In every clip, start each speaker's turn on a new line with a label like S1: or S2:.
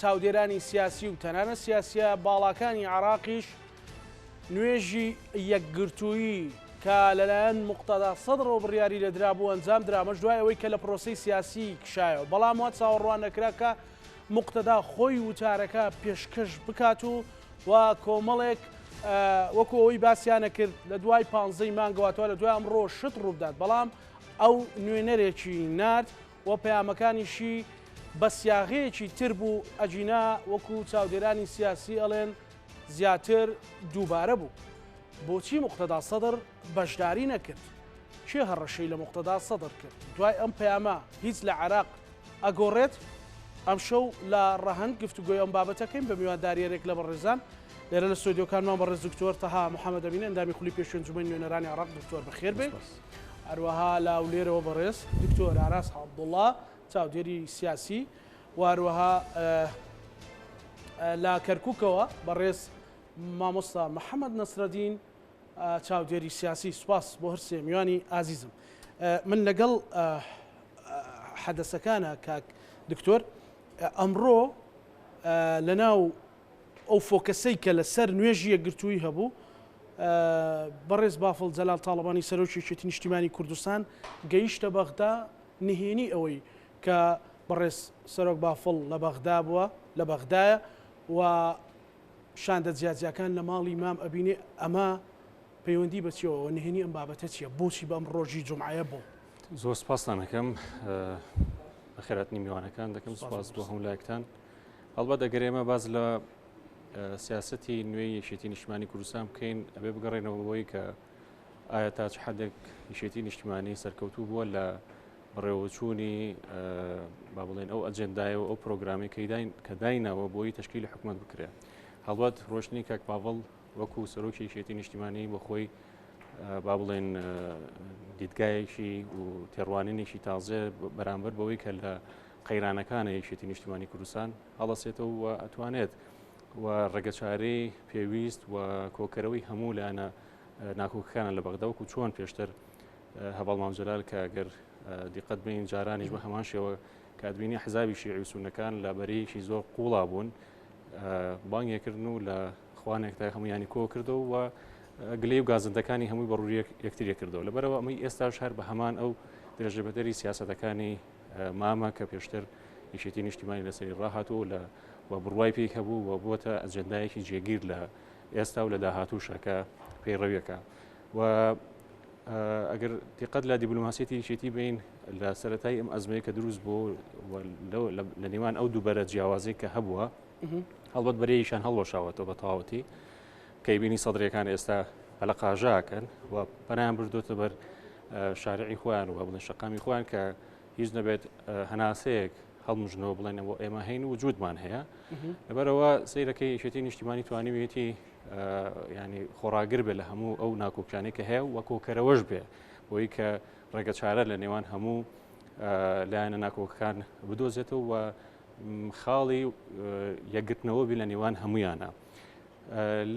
S1: چاودێرانی سیاسی و تەنانەت سیاسییە باڵاکانی عێراقیش نوێژی یەکگرتوویی کە لەلایەن مقتەدا سەدڕەوە بڕیاری لە درابوو ئەنجام درامەش دوای ئەوەی کە لە پرۆسی سیاسی کشایەوە بەڵام وا چاوەڕوان نەکرا کە مقتەدا خۆی وتارەکە پێشکەش بکات و و کۆمەڵێک وەکو ئەوەی باسییانە کرد لە دوای پانزەی مانگەواتەوە لە دوای ئەمڕۆ شت ڕووبدات بەڵام ئەو نوێنەرێکی نرد و پەیامەکانیشی بە سیاغەیەکی تر بوو، ئەگینا وەکو چاودێرانی سیاسی ئەڵێن زیاتر دووبارە بوو. بۆچی موقتەدا سەدڕ بەشداری نەکرد؟ کێ هەڕەشەی لە موقتەدا سەدڕ کرد؟ دوای ئەم پەیامە هیچ لە عێراق ئەگۆڕێت؟ ئەمشەو لە ڕەهەند گفتوگۆی ئەم بابەتەکەین بە میوانداریەرێک لە بەڕێزان لێرە لە ستۆدیۆکانمان بەڕێز دکتۆر تەها محەمەدەمین ئەندامی خولی پێشوی ئەنجومەنی نوێنەرانی عێراق دکتۆر بەخێربێی. هەروەها لە هەولێرەوە بەڕێز دکتۆر ئاراس عەبدوڵا چاودێری سیاسی و هەروەها لە کەرککەوە بەڕێز مامۆستا محەممەد نەسرەدین چاودێری سیاسی سوپاس بۆ هەر سێ میوانی ئازیزم من لەگەڵ حەدەسەکانە کاک دکتۆر ئەمڕۆ لەناو ئەو فۆکەسەی کە لە سەر نوێژی یەکگرتوویی هەبوو، بەڕێز بافڵ جەلال تاڵەبانی سەرۆکی یەکێتی نیشتیمانی کوردستان گەیشتە بەغدا، نهێنی ئەوەی کە بەڕێز سەرۆک بافڵ لە بەغدا بووە، لە بەغدایە و شاندە جیاجیاکان لە ماڵی مام ئەبینێ، ئەمە پەیوەندی بە چیەوە و نهێنی ئەم بابەتە چیە؟ بۆچی بەم ڕۆژی جومعەیە بۆ؟ زۆر سپاستان
S2: ئەکەم، بەخێرهاتنی میوانەکان دەکەم، سپاس بۆ هەموو لایەکتان. هەڵبەت ئەگەر ئێمە باز لە سیاستی نوێی یەکێتی نیشتمانی کوردستان بکەین ئەبێ بگەڕێنەوە بۆی کە ئایا تاچ حەدێک یشێتی نیشتمانی سەرکەوتوو بووە لە بڕێوەچوونی با بڵێن ئەو ئەجندای و ئەو پرۆگرامی کەداین کە داینەوە بۆی تشکیل حکومت بکرێت هەڵبەت ڕۆشتنی کاک پاڤڵ وەکو سەرۆکی یشێتی نیشتیمانی بۆ خۆی با بڵێن دیدگایەکی و تێڕوانینێکی تازێ بەرامبەر بەوەی کە لە قەیرانەکانە یەکێتی نیشتیمانی کوردستان هەڵەسێتەوە و ئەتوانێت و ڕێگەچارەی پێویست و کۆکەرەوەی هەموو لایەنە ناکۆکەکانە لە بەغدا وەکو چۆن پێشتر هەواڵ مامجلال کە گەر دیقەت بین جارانیش بە هەمان شێوە کادبینی حزابی شیعی و سونەکان لە بەرەیەکی زۆر قوڵا بوون بانگێکردن و لە خوانێک تا هەمویانی کۆ کردەوە و گلەی و گازندەکانی هەمووی بەڕووی یەکتریە کردەوە لەبەرەوە ئەمەی ئێستاش هەر بە هەمان ئەو درێژە بەدەری سیاستەکانی مامە کە پێشتر یەکێتی نیشتیمانی لەسەری ڕاهاتوو لە و بڕوای پێی هەبوو و بووەتە ئەجندایەکی جێگیر لە ئێستا و لە داهاتووشە کە پەیڕەویەکە و ئەگەر دیقەت لە دیبلوماسیەتی یەکێتی بین لە سەتای ئەم ئەزمەیە کە دروست بوو لە نێوان ئەو دووبەرە جیاوازی کە هەبووە هەڵبەت بەرەیشان هەڵوەشاوەتەوە بە تەواوەتی کەی بینی سەدرەکان ئێستا هەلە قاژاکەن و پەنایان بردوتە بەر شارعی خۆیان و بڵێن شەقامی خۆیان کە هیچ نەبێت هەناسەیەک هەڵمژنەوە بڵێن بۆ ئێمە هەین و جوودمان هەیە لەبەرەوە سیرەکەی یەکێتی نیشتیمانی توانیویەتی ینی خۆراگر بێ لە هەموو ئەو ناکۆکیانی کە هەیە وە کۆکەرەوەش بێ بۆی کە ڕێگە چارە لە نێوان هەموو لایەنە ناکۆکەکان بدۆزێتەوە و خاڵی یەکگرتنەوە بی لە نێوان هەمویانە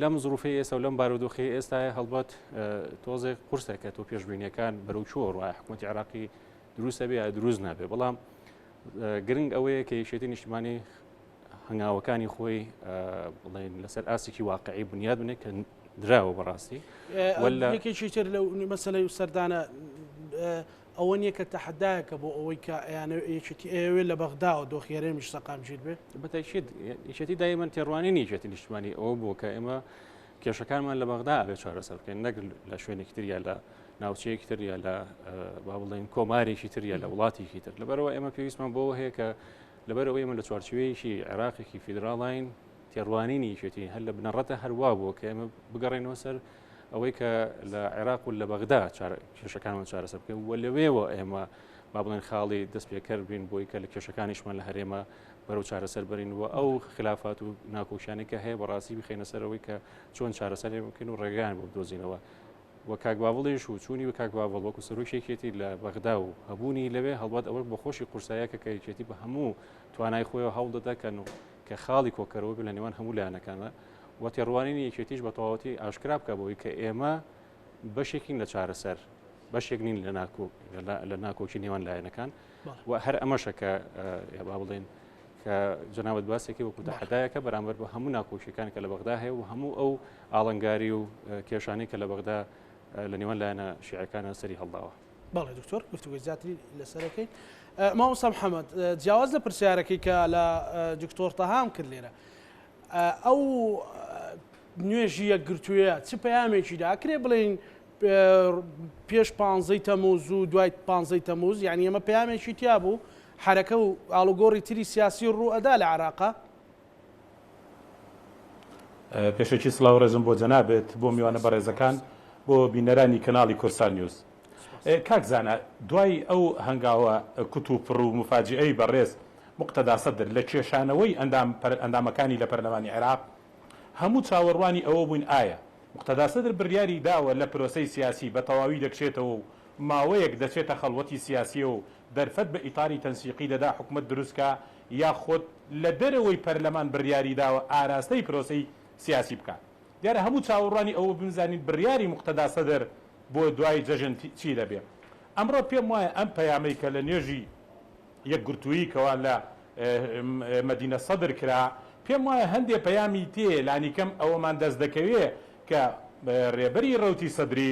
S2: لەم زروفی ئێستا و لەم بارودۆخی ئێستا هەڵبەت تۆزێک قرسە کە تۆ پێشببینیەکان بەرەو چوە ڕای حکوومەتی عراقی دروستە بێ دروست نابێ بەڵام گرنگ ئەوەیە کە یشێتی نیشتمانی هەنگاوەکانی خۆی بڵێن لەسەر ئاستێکی واقعی بنیاد بنێ کە دراوە بەڕاستی وەلەکێکی
S1: تر لەو مەسلەی و سەردانە ئەوە نیە کە تەحەدایەکە بۆ ئەوەی کە ئەیانەوێ یەکێتی ئەیەوێ لە بەغداوە دۆخی هەرێمیش سەقامگیر بێ. بە تەئکید
S2: یەکێتی دایمەن تێڕوانینی یەکێتی نیشتمانی ئەوە بووە کە ئێمە کێشەکانمان لە بەغدا ئەبێ چارەسەر بکەین نەک لە شوێنێکی تر یا لە ناوچەیەکی تر یا لە با بڵێین کۆمارێکی تر یا لە وڵاتێکی تر لەبەرەوە ئێمە پێویستمان بۆ هەیە کە لەبەرەوەی من لە چوارچوەیەکی عێراقێکی فیدراڵین تێڕوانینی یەکێتی هەر لە بنەڕەتە هەروا بووە کە ئێمە بگەڕێنەوە سەر ئەوەی کە لە عێراق و لە بەغدا کێشەکانمان چارەسەر بکەین و لەوێوە ئێمە با بڵێن خاڵی دەست پێکەر بین بۆی کە لە کێشەکانیشمان لە هەرێمە بەرەو چارەسەر برین و ئەو خلافات و ناکۆکیانە کە هەیە بەڕاستی بخینە سەرەوەی کە چۆن چارەسەر بکەین و ڕێگان بۆ بدۆزینەوە وە کاکباڵیش و چوونی و کاکباڵ وەکو سەرۆکێکێتی لە بەغدا و هەبوونی لەوێ هەڵبات ئەوە بە خۆشی قورسایە کە کەیکێتی بە هەموو توانای خۆی هەوڵ دەدەکەن و کە خاڵی کۆکەرەوە بێت لە نێوان هەموو لایەنەکاندا و تێڕوانینی یەکێتیش بە تەواوەتی ئاشکرا بکە بۆی کە ئێمە بەشێکین لە چارەسەر بەشێک نین لە ناکۆ لە ناکۆکی نێوان لایەنەکان و هەر ئەمەشە کە با بڵێن کە جناوت باسێکی وەکو داحدایەکە بەرامبەر بە هەموو ناکۆشیەکان کە لە بەغدا هەیە و هەموو ئەو ئاڵنگاری و کێشانی کە لە بەغدا لە نێوان لایەنە شیعەکانە سەری هەڵداوە بەڵێ دکتۆر گفتوگوی
S1: زیاتری لەسەرەکەین مامۆستا محەممەد جیاواز لە پرسیارەکەی کە لە دکتۆر تەهام کرد لێرە ئەو نوێژی یەکگرتووە چ پەیامێکی داکرێ بڵین پێش پانزەی تەموز و دوای پانزەی تەموز یعنی ئەمە پەیامێکی تیا بوو حرەکە و ئالوگۆری تری سیاسی ڕوو ئەدا لە عراقا
S3: پێشەکی سڵاو و ڕێزم بۆ جەنابت بۆ میوانە بەڕێزەکان بۆ بینەرانی کەناڵی کۆسان نیوز کاک زانا دوای ئەو هەنگاوە کوت و پڕ و موفاجیئەی بەڕێز موقتەدا سەدر لە کێشانەوەی ئەندام ئەندامەکانی لە پەرلەمانی عێراق هەموو چاوەڕوانی ئەوە بووین ئایا موقتەدا سەدر بڕیاری داوە لە پرۆسەی سیاسی بە تەواوی دەکشێتەوە و ماوەیەک دەچێتە خەڵوەتی سیاسیەوە و دەرفەت بە ئیتاری تەنسیقی دەدا حکومەت دروست کا یاخود لە دەرەوەی پەرلەمان بڕیاری داوە ئاراستەی پرۆسەی سیاسی بکات. دیارە هەموو چاوەڕوانی ئەوە بووین بزانین بڕیاری موقتەدا سەدر بۆ دوای جەژن چی دەبێت. ئەمڕۆ پێم وایە ئەم پەیامەی کە لە نوێژی یەکگرتوویی کەوا لە مەدینە سەدر کرا، پێم وایە هەندێ پەیامی تێیە، لانیکەم ئەوەمان دەست دەکەوێت کە رێبەری رەوتی سەدری،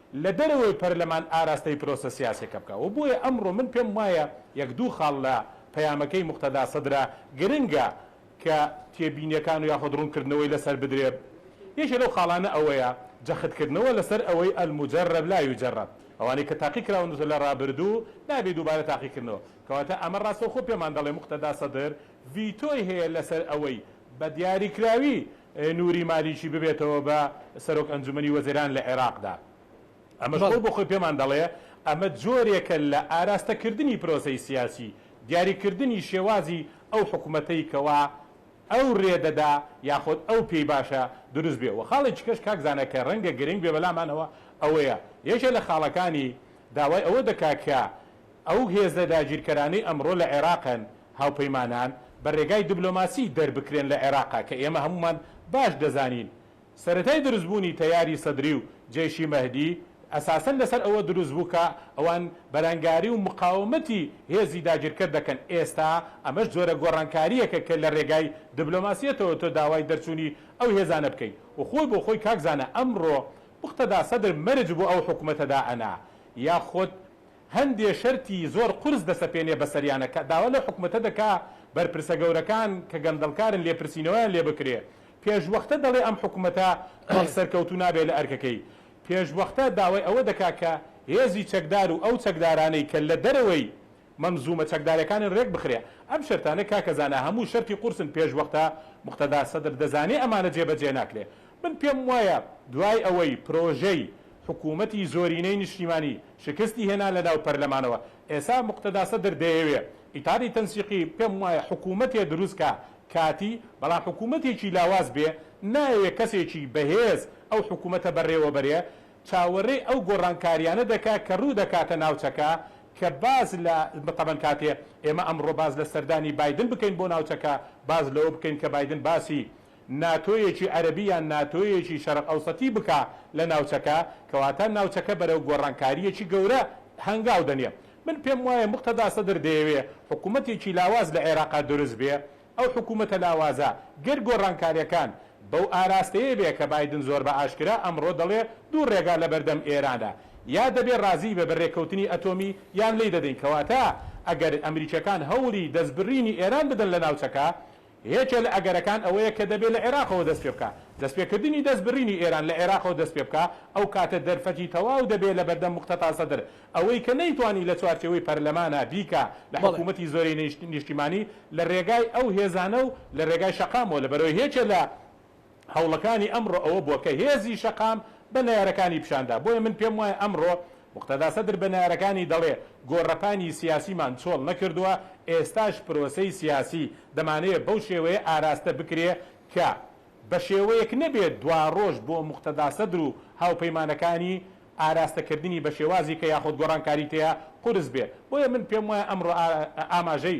S3: لە دەرەوەی پەرلەمان ئاراستەی پرۆسە سیاسیەکە بکا و بۆیە ئەمڕۆ من پێم وایە یەک دوو خاڵ لە پەیامەکەی موقتەدا سەدرە گرنگە کە تێبینیەکان و یاخود ڕوونکردنەوەی لەسەر بدرێ یەکێ لەو خاڵانە ئەوەیە جەخت کردنەوە لەسەر ئەوەی المجرب لا یجرب ئەوانەی کە تاقی کراون لە ڕابردوو نابێ دووبارە تاقی کردنەوە کەواتە ئەمە ڕاستەوخۆ پێمان دەڵێ موقتەدا سەدر ڤیتۆی هەیە لەسەر ئەوەی بە دیاریکراوی نوری مالیکی ببێتەوە بە سەرۆک ئەنجومەنی وەزیران لە عێراقدا، ئەمەش خۆی بەڵێ. بۆ خۆی پێمان دەڵێ ئەمە جۆرێکە لە ئاراستەکردنی پرۆسەی سیاسی، دیاریکردنی شێوازی ئەو حکومەتەی کەوا ئەو رێ دەدا یاخود ئەو پێی باشە دروست بێ و خاڵێکی کەش کاک زانا کە رەنگە گرنگ بێ بەلامانەوە ئەوەیە یەکێ لە خاڵەکانی داوای ئەوە دەکا کە ئەو هێزە داگیرکەرانەی ئەمڕۆ لە عێراقن، هاوپەیمانان بە رێگای دبلۆماسی دەربکرێن لە عێراقە کە ئێمە هەموومان باش دەزانین سەرەتای دروستبوونی تەیاری سەدری و جەیشی مەهدی ئەساسەن لەسەر ئەوە دروستبوو کە ئەوان بەرانگاری و مقاومەتی هێزی داگیرکەر دەکەن ئێستا ئەمەش جۆرە گۆڕانکارییەکە کە لە رێگای دبلۆماسیەتەوە تۆ داوای دەرچوونی ئەو هێزانە بکەی و خۆی بۆ خۆی کاک زانا ئەمڕۆ موقتەدا سەدر مەرج بۆ ئەو حکومەتە دائەنا یاخود هەندێ شەرتی زۆر قورس دەسەپێنێ بەسەریانا کە داوا لەو حکومەتە دەکا بەرپرسە گەورەکان کە گەندەڵکارن لێپرسینەوەیان لێ بکرێ. پێشوەختە دەڵێ ئەم حکومەتە وەک سەرکەوتوو نابێ لە ئەرکەکەی. پێشوەختە داوای ئەوە دەکا کە هێزی چەکدار و ئەو چەکدارانەی کە لە دەرەوەی مەنزوومە چەکدارەکانن رێک بخرێ. ئەم شەرتانە کاکە زانا هەموو شەرتی قورسن پێشوەختە موقتەدا سەدر دەزانێ ئەمانە جێبەجێ ناکرێ. من پێم وایە دوای ئەوەی پرۆژەی حکومەتی زۆرینەی نیشتیمانی شکستی هێنا لەناو پەرلەمانەوە ئێسا موقتەدا سەدر دەیەوێ ئیتادی تەنسیقی پێم وایە حکومەتێ دروست کا کاتی بەڵام حکومەتێکی لاواز بێ نایەوێ کەسێکی بەهێز ئەو حکومەتە بەڕێوە بەرێ چاوەرێی ئەو گۆڕانکاریانە دەکا کە روو دەکاتە ناوچەکە کە باس لە تەبەن کاتێ ئێمە ئەمڕۆ باس لە سەردانی بایدن بکەین بۆ ناوچەکە باس لەوە بکەین کە بایدن باسی ناتۆیەکی عەرەبی یان ناتۆیەکی شەرق ئەوسەتی بکا لە ناوچەکە، کەواتە ناوچەکە بەرەو گۆڕانکارییەکی گەورە هەنگاو دەنێ. من پێم وایە موقتەدا سەدر دەیەوێ حکوومەتێکی لاواز لە عێراقا دروست بێ، ئەو حکوومەتە لاوازە گەر گۆڕانکارییەکان بەو ئاراستەیە بێ کە بایدن زۆر بە ئاشکرا ئەمڕۆ دەڵێ دوو ڕێگا لە بەردەم ئێرانە یا دەبێ ڕازی بێ بە رێککەوتنی ئەتۆمی یان لێی دەدەین، کەواتە ئەگەر ئەمریکییەکان هەوڵی دەستبرینی ئێران بدەن لە ناوچەکە، یەکێ لە ئەگەرەکان ئەوەیە کە دەبێ لە عێراقەوە دەست پێ بکا. دەست پێ کردنی دەست بڕینی ئێران لە عێراقەوە دەست پێ بکا، ئەو کاتە دەرفەتی تەواو دەبێ لە بەردەم موقتەتا سەدر. ئەوەی کە نەیتوانی لە چوارچێوەی پەرلەمانا بیکا لە بەڵێ. حکوومەتی زۆرینەی نیشتیمانی لە رێگای ئەو هێزانە و لە رێگای شەقامەوە لە بەرەوەی یەکێ لە هەوڵەکانی ئەمڕۆ ئەوە بووە کە هێزی شەقام بە نەیارەکانی پیشاندا، بۆیە من پێم وایە ئەمڕۆ موقتەدا سەدر بە نەیارەکانی دەڵێ گۆڕەپانی سیاسیمان چۆڵ نەکردووە، ئێستاش پرۆسەی سیاسی دەمانەوێ بەو شێوەیە ئاراستە بکرێ کە بە شێوەیەک نەبێ دواڕۆژ بۆ موقتەدا سەدر و هاوپەیمانەکانی ئاراستە کردنی بە شێوازی کە یاخود گۆڕانکاری تێیا قورس بێ، بۆیە من پێم وایە ئەمڕۆ ئاماژەی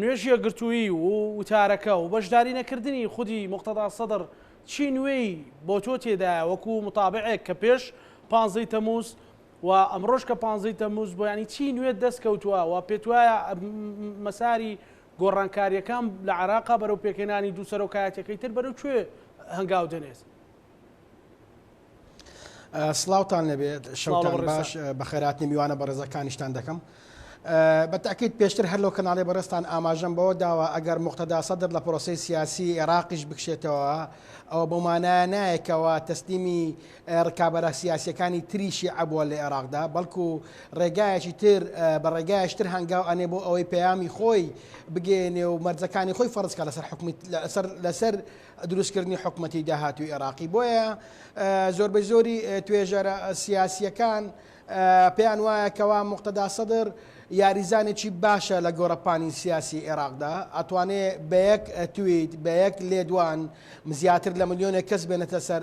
S1: نوێژ یەکگرتوویی و وتارەکە و بەشداری نەکردنی خودی موقتەدا سەدڕ چی نوێی بۆ تۆ تێدایە وەکو متابعێک کە پێش پانزەی تەموز و ئەمڕۆش کە پانزەی تەموز بۆ ینی چی نوێت دەست کەوتووە و پێت وایە مەساری گۆڕانکاریەکان لە عێراقا بەرەو پێکهێنانی دوو سەرۆکایەتیەکەی تر بەرەو کوێ هەنگاو دەنێت؟
S4: سڵاوتان لەبێت شەڵ باش بەخێراتنی میوانە بەڕێزەکانیشتان دەکەم. بەتاکیت پێشتر هەر لەو کەناڵی بەڕستان ئاماژەم بەوە داوە ئەگەر مختدا سەدر لە پرۆسی سیاسی عێراقیش بکشێتەوە ئەوە بۆمانایە نایەکەوە تەسلیمی ڕکابەرە سیاسەکانی تریشی عبووە لە عێراقدا بەڵکو ڕێگایەکی تر بە ڕێگایشتر هەنگاو ئەنێ بۆ ئەوەی پەیامی خۆی بگەێنێ و مەرجەکانی خۆی فەرزکە لەسەر حکومی لەسەر لەسەر دروستکردنی حکومەتی داهاتووی عێراقی. بۆیە زۆربەی زۆری توێژەرە سیاسییەکان پێیان وایە کەوا موقتەدا سەدر یاریزانێکی باشە لە گۆڕەپانی سیاسی عێراقدا، ئەتوانێ بە یەک تویت، بە یەک لێدوان زیاتر لە ملیۆنێک کەس بێنێتە سەر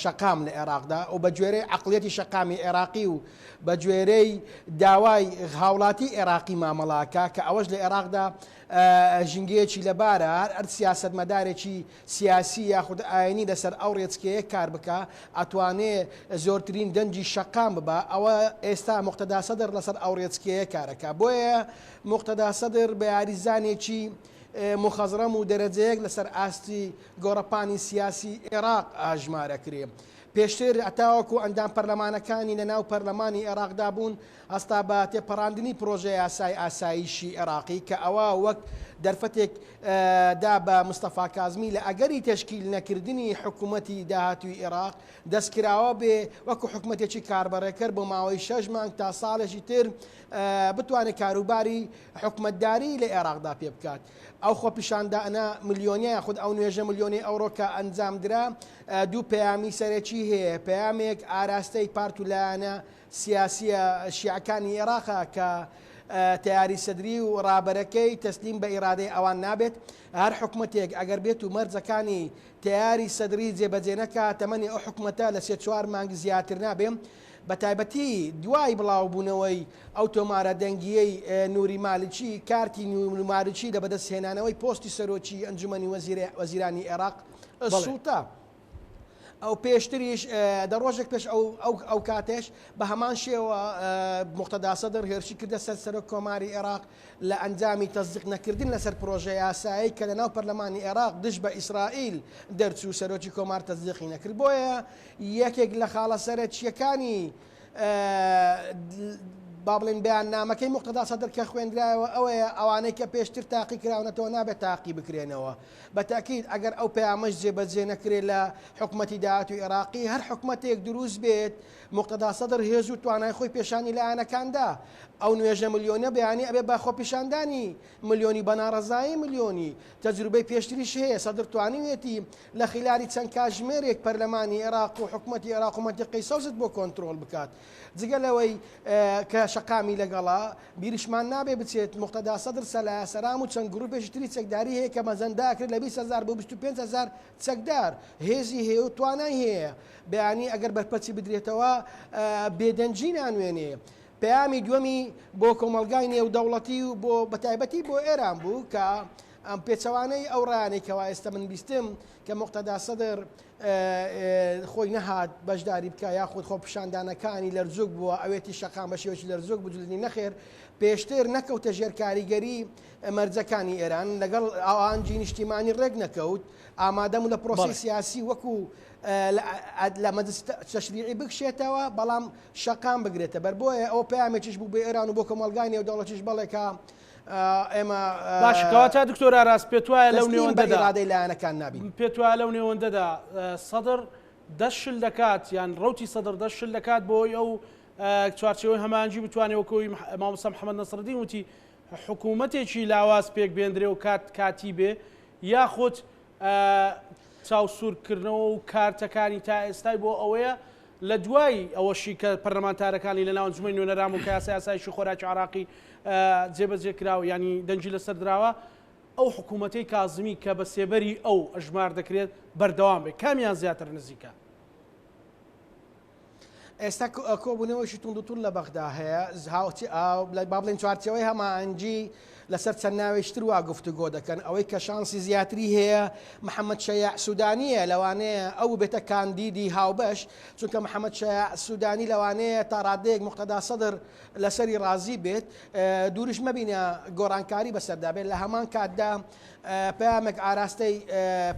S4: شەقام لە عێراقدا و بە گوێرەی عەقڵیەتی شەقامی عێراقی و بە گوێرەی داوای هاوڵاتی عێراقی مامەڵە ئەکا کە ئەوەش لە عێراقدا ژینگەیەکی لەبارە، هەر ئەرد سیاسەتمەدارێکی سیاسی یاخود ئاینی لەسەر ئەو رێچکەیە کار بکا ئەتوانێ زۆرترین دەنگی شەقام ببا، ئەوە ئێستا موقتەدا سەدر لەسەر ئەو رێچکەیە کار ئەکا، بۆیە موقتەدا سەدر بە یاریزانێکی موخەزڕەم و دەرەجەیەک لەسەر ئاستی گۆڕەپانی سیاسی ئێراق ئاژمار ئەکرێ، پێشتر هەتاوەکو ئەندام پەرلەمانەکانی لەناو پەرلەمانی ئێراقدا بوون، هەستا بە تێپەڕاندنی پڕۆژەیاسای ئاسایشی عێراقی کە ئەوە وەک دەرفەتێک دا بە مستەفا کازمی لە ئەگەری تەشکیل نەکردنی حکومەتی داهاتووی عێراق دەستکراوە بێ وەکو حکومەتێکی کاربەڕێکەر بۆ ماوەی شەش مانگ تا ساڵێکی تر بتوانێت کاروباری حکومەتداری لە عێراقدا پێ بکات ئەو خۆپیشاندانە ملیۆنیە یاخود ئەو نوێژە ملیۆنی ئەوڕۆ کە ئەنجام درا دوو پەیامی سەرەکی هەیە پەیامێک ئاراستەی پارت و لایەنە سیاسیە شیعەکانی ئێراقە کە تەیاری سەدری و ڕابەرەکەی تەسلیم بە ئیرادەی ئەوان نابێت. هەر حکومەتێک ئەگەر بێت و مەرجەکانی تەیاری سەدری جێبەجێ نەکا تەمەنی ئەو حکومەتە لە سێ چوار مانگ زیاتر نابێ. بە تایبەتی دوای بڵاو بوونەوەی ئەو تۆمارە دەنگیەی نوری مالکی، کارتی نوری مالکی لە بەدەست هێنانەوەی پۆستی سەرۆکی ئەنجومەنی وەزیرانی ئێراق، السلطە، ئەو پێشتریش دە ڕۆژێک پێش ئەو ئەو ئەو کاتێش بە هەمان شێوە مختدا سەدر هێرشی کردە سەر سەرۆک کۆماری عێراق لە ئەنجامی تەزدیق نەکردن لەسەر پرۆژە یاسایی کە لە ناو پەرلەمانی عێراق دژ بە ئیسرائیل دەرچوو سەرۆکی کۆمار تەزدیقی نەکرد بۆیە یەکێک لە خاڵە سەرەکیەکانی با بڵین بیان نامەکەی مختدا سەدر کە خوێندرایەوە ئەوەیە ئەوانەی کە پێشتر تاقی کراونەتەوە نابێت تاقی بکرێنەوە. بە تەئکید ئەگەر ئەو پەیامەش جێبەجێ نەکرێت لە حکومەتی داهاتووی ئێراقی، هەر حکومەتێک دروست بێت، موقتەدا سەدر هێز و توانای خۆی پێشانی لایەنەکان دا. ئەو نوێژە ملیۆنیە بەیانی ئەبێت بە خۆپیشاندانی ملیۆنی، بە ناڕەزایی ملیۆنی. تەجروبەی پێشتریش هەیە، سەدر توانیویەتی لە خیلالی چەند کاتژمێرێک پەرلەمانی ئێراق و حکومەتی ئێراق و مەنتیقەی سەوزت بۆ کۆنترۆڵ بکات. جگە لەوەی کە شەقامی لەگەڵە، بیریشمان نابێت بچێت موقتەدا سەدر سەلایا سەرام و چەند گرووپێکی تری چەکداری هەیە کە مەزەندە ئەکرێت لە بیست هەزار بۆ بیست و پێنج هەزار چەکدار هێزی هەیە و توانای هەیە بەیانی ئەگەر بەرپەرچی بدرێتەوە بێدەنگی نانوێنێ. پەیامی دووەمی بۆ کۆمەڵگای نێودەوڵەتی و بۆ بەتایبەتی بۆ ئێران بوو کە ئەم پێچەوانەی ئەو ڕایانەی کەوا ئێستا من بیستم، کە موقتەدا سەدر خۆی نەهات بەشداری بکا یاخود خۆپشاندانەکانی لەرزوک بووە ئەوێتی شەقام بە شێوەی لەرزوک بجلنی نەخێر پێشتر نەکەوتە ژێر کاریگەری مەرجەکانی ئێران لەگەڵ ئاوانجی نیشتیمانی ڕێک نەکەوت ئامادەم و لە پرۆسی سیاسی وەکو لە مەدرس تەشریعی بکشێتەوە بەڵام شەقام بگرێتە بەر بۆیە ئەو پامێکیش بوو بە ئێران و بۆ کۆمەلگای نێودەوڵەتیش بەڵێکە ئێمە باش
S1: کەواتە دکتۆر ئاراس پێت وایە لەو نێوەندەدا ئیرادەی لایەنەکان
S4: نابین پێت وایە لەو نێوەندەدا
S1: سەدر دەشل دەکات یان ڕوتی سەدر دەشل دەکات بۆی ئەو چوارچەوەی هەمانجی بتوانێت وەکەوەی مامۆستا محەممەد نەسردین وتی حکوومەتێکی لاواز پێک بێندرێ و کات کاتی بێ یاخود چاوسورکردنەوە و کارتەکانی تا ئێستای بۆ ئەوەیە لە دوای ئەوەشی کە پەرلەمانتارەکانی لە ناو ئەنجومەنی نوێنەران بوون کە یاسای ئاسایشی خۆراکی عێراقی جێبەجێ کرا و یانی دەنگی لەسەر دراوە، ئەو حکوومەتەی کازمی کە بە سێبەری ئەو ئەژمار دەکرێت بەردەوام بێت، کامیان زیاتر نزیکە؟ ئێستا
S4: کۆبوونەوەیەکی توندوتوند لە بەغدا هەیە، با بڵێین چوارچێوەی هەماهەنگی لەسەر چەند ناوێکی تر وا گفتوگۆ دەکەن، ئەوەی کە شانسی زیاتری هەیە محەمەد شەیاع سودانییە، لەوانەیە ئەو ببێتە کاندیدی هاوبەش، چونکە محەمەد شەیاع سودانی لەوانەیە تا ڕادەیەک موقتەدا سەدر لەسەری ڕازی بێت، دوورش مەبینە گۆڕانکاری بەسەردا بێت، لە هەمان کاتدا پەیامێک ئاراستەی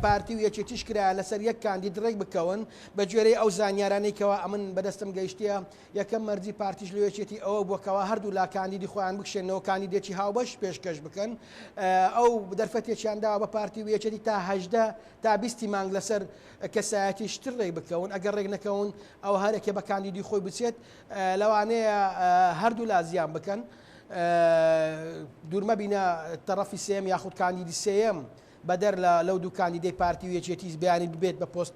S4: پارتی و یەکێتیش کرایە لەسەر یەک کاندید ڕێکبکەون، بەگوێرەی ئەو زانیارانەی کەوا ئەمن بەدەستم گەیشتییە، یەکەم مەرجی پارتیش لۆ یەکێتی ئەوە بووە کەوا هەردوو لا کاندیدی خۆیان بکشێنەوە کاندیدێکی هاوبەش پێشکەش بکەن ئەو دەرفەتێکیان داوە بە پارتی و یەکێتی تا هەژدە تا بیستی مانگ لەسەر کەسایەتی شتر ڕێک بکەون ئەگەر ڕێک نەکەون ئەو هەرێکێ بە کاندیدی خۆی بچێت لەوانەیە هەردوو لا زیان بکەن دوورمە بینە تەڕەفی سێم یاخود کاندیدی سێم بەدەر لە لەو دوو کاندیدەی پارتی و یەکێتیی بیانی ببێت بە پۆست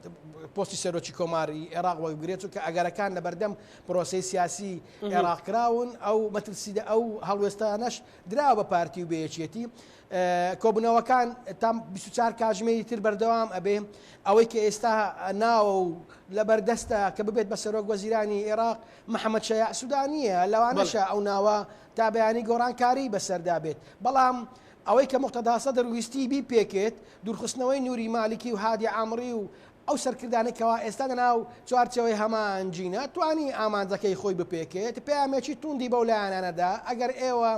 S4: پۆستی سەرۆکی کۆماری ئێراق وەربگرێت، چونکە ئەگەرەکان لەبەردەم پرۆسەی سیاسیی ئێراق کراون، ئەو مەترسیدە ئەو هەڵوێستانەش دراوە بە پارتی و بە یەکێتی. کۆبوونەوەکان تا بیست و چوار کاژمێری تر بەردەوام ئەبێ، ئەوەی کە ئێستا ناوە و لەبەردەستە کە ببێت بە سەرۆک وەزیرانی ئێراق محەمەد شەیاع سودانییە، لەوانەشە ئەو ناوە تا بیانی گۆڕانکاریی بەسەردا بێت، بەڵام ئەوەی کە موقتەدا سەدر ویستی بیپێکێت، دوورخستنەوەی نوری مالکی و هادی عامری و ئەو سەرکردانەی کەوا ئێستا لە ناو چوارچێوەی هەمان جینە، توانی ئامانجەکەی خۆی بپێکێت، پەیامێکی توندی بەو لایەنانە دا، ئەگەر ئێوە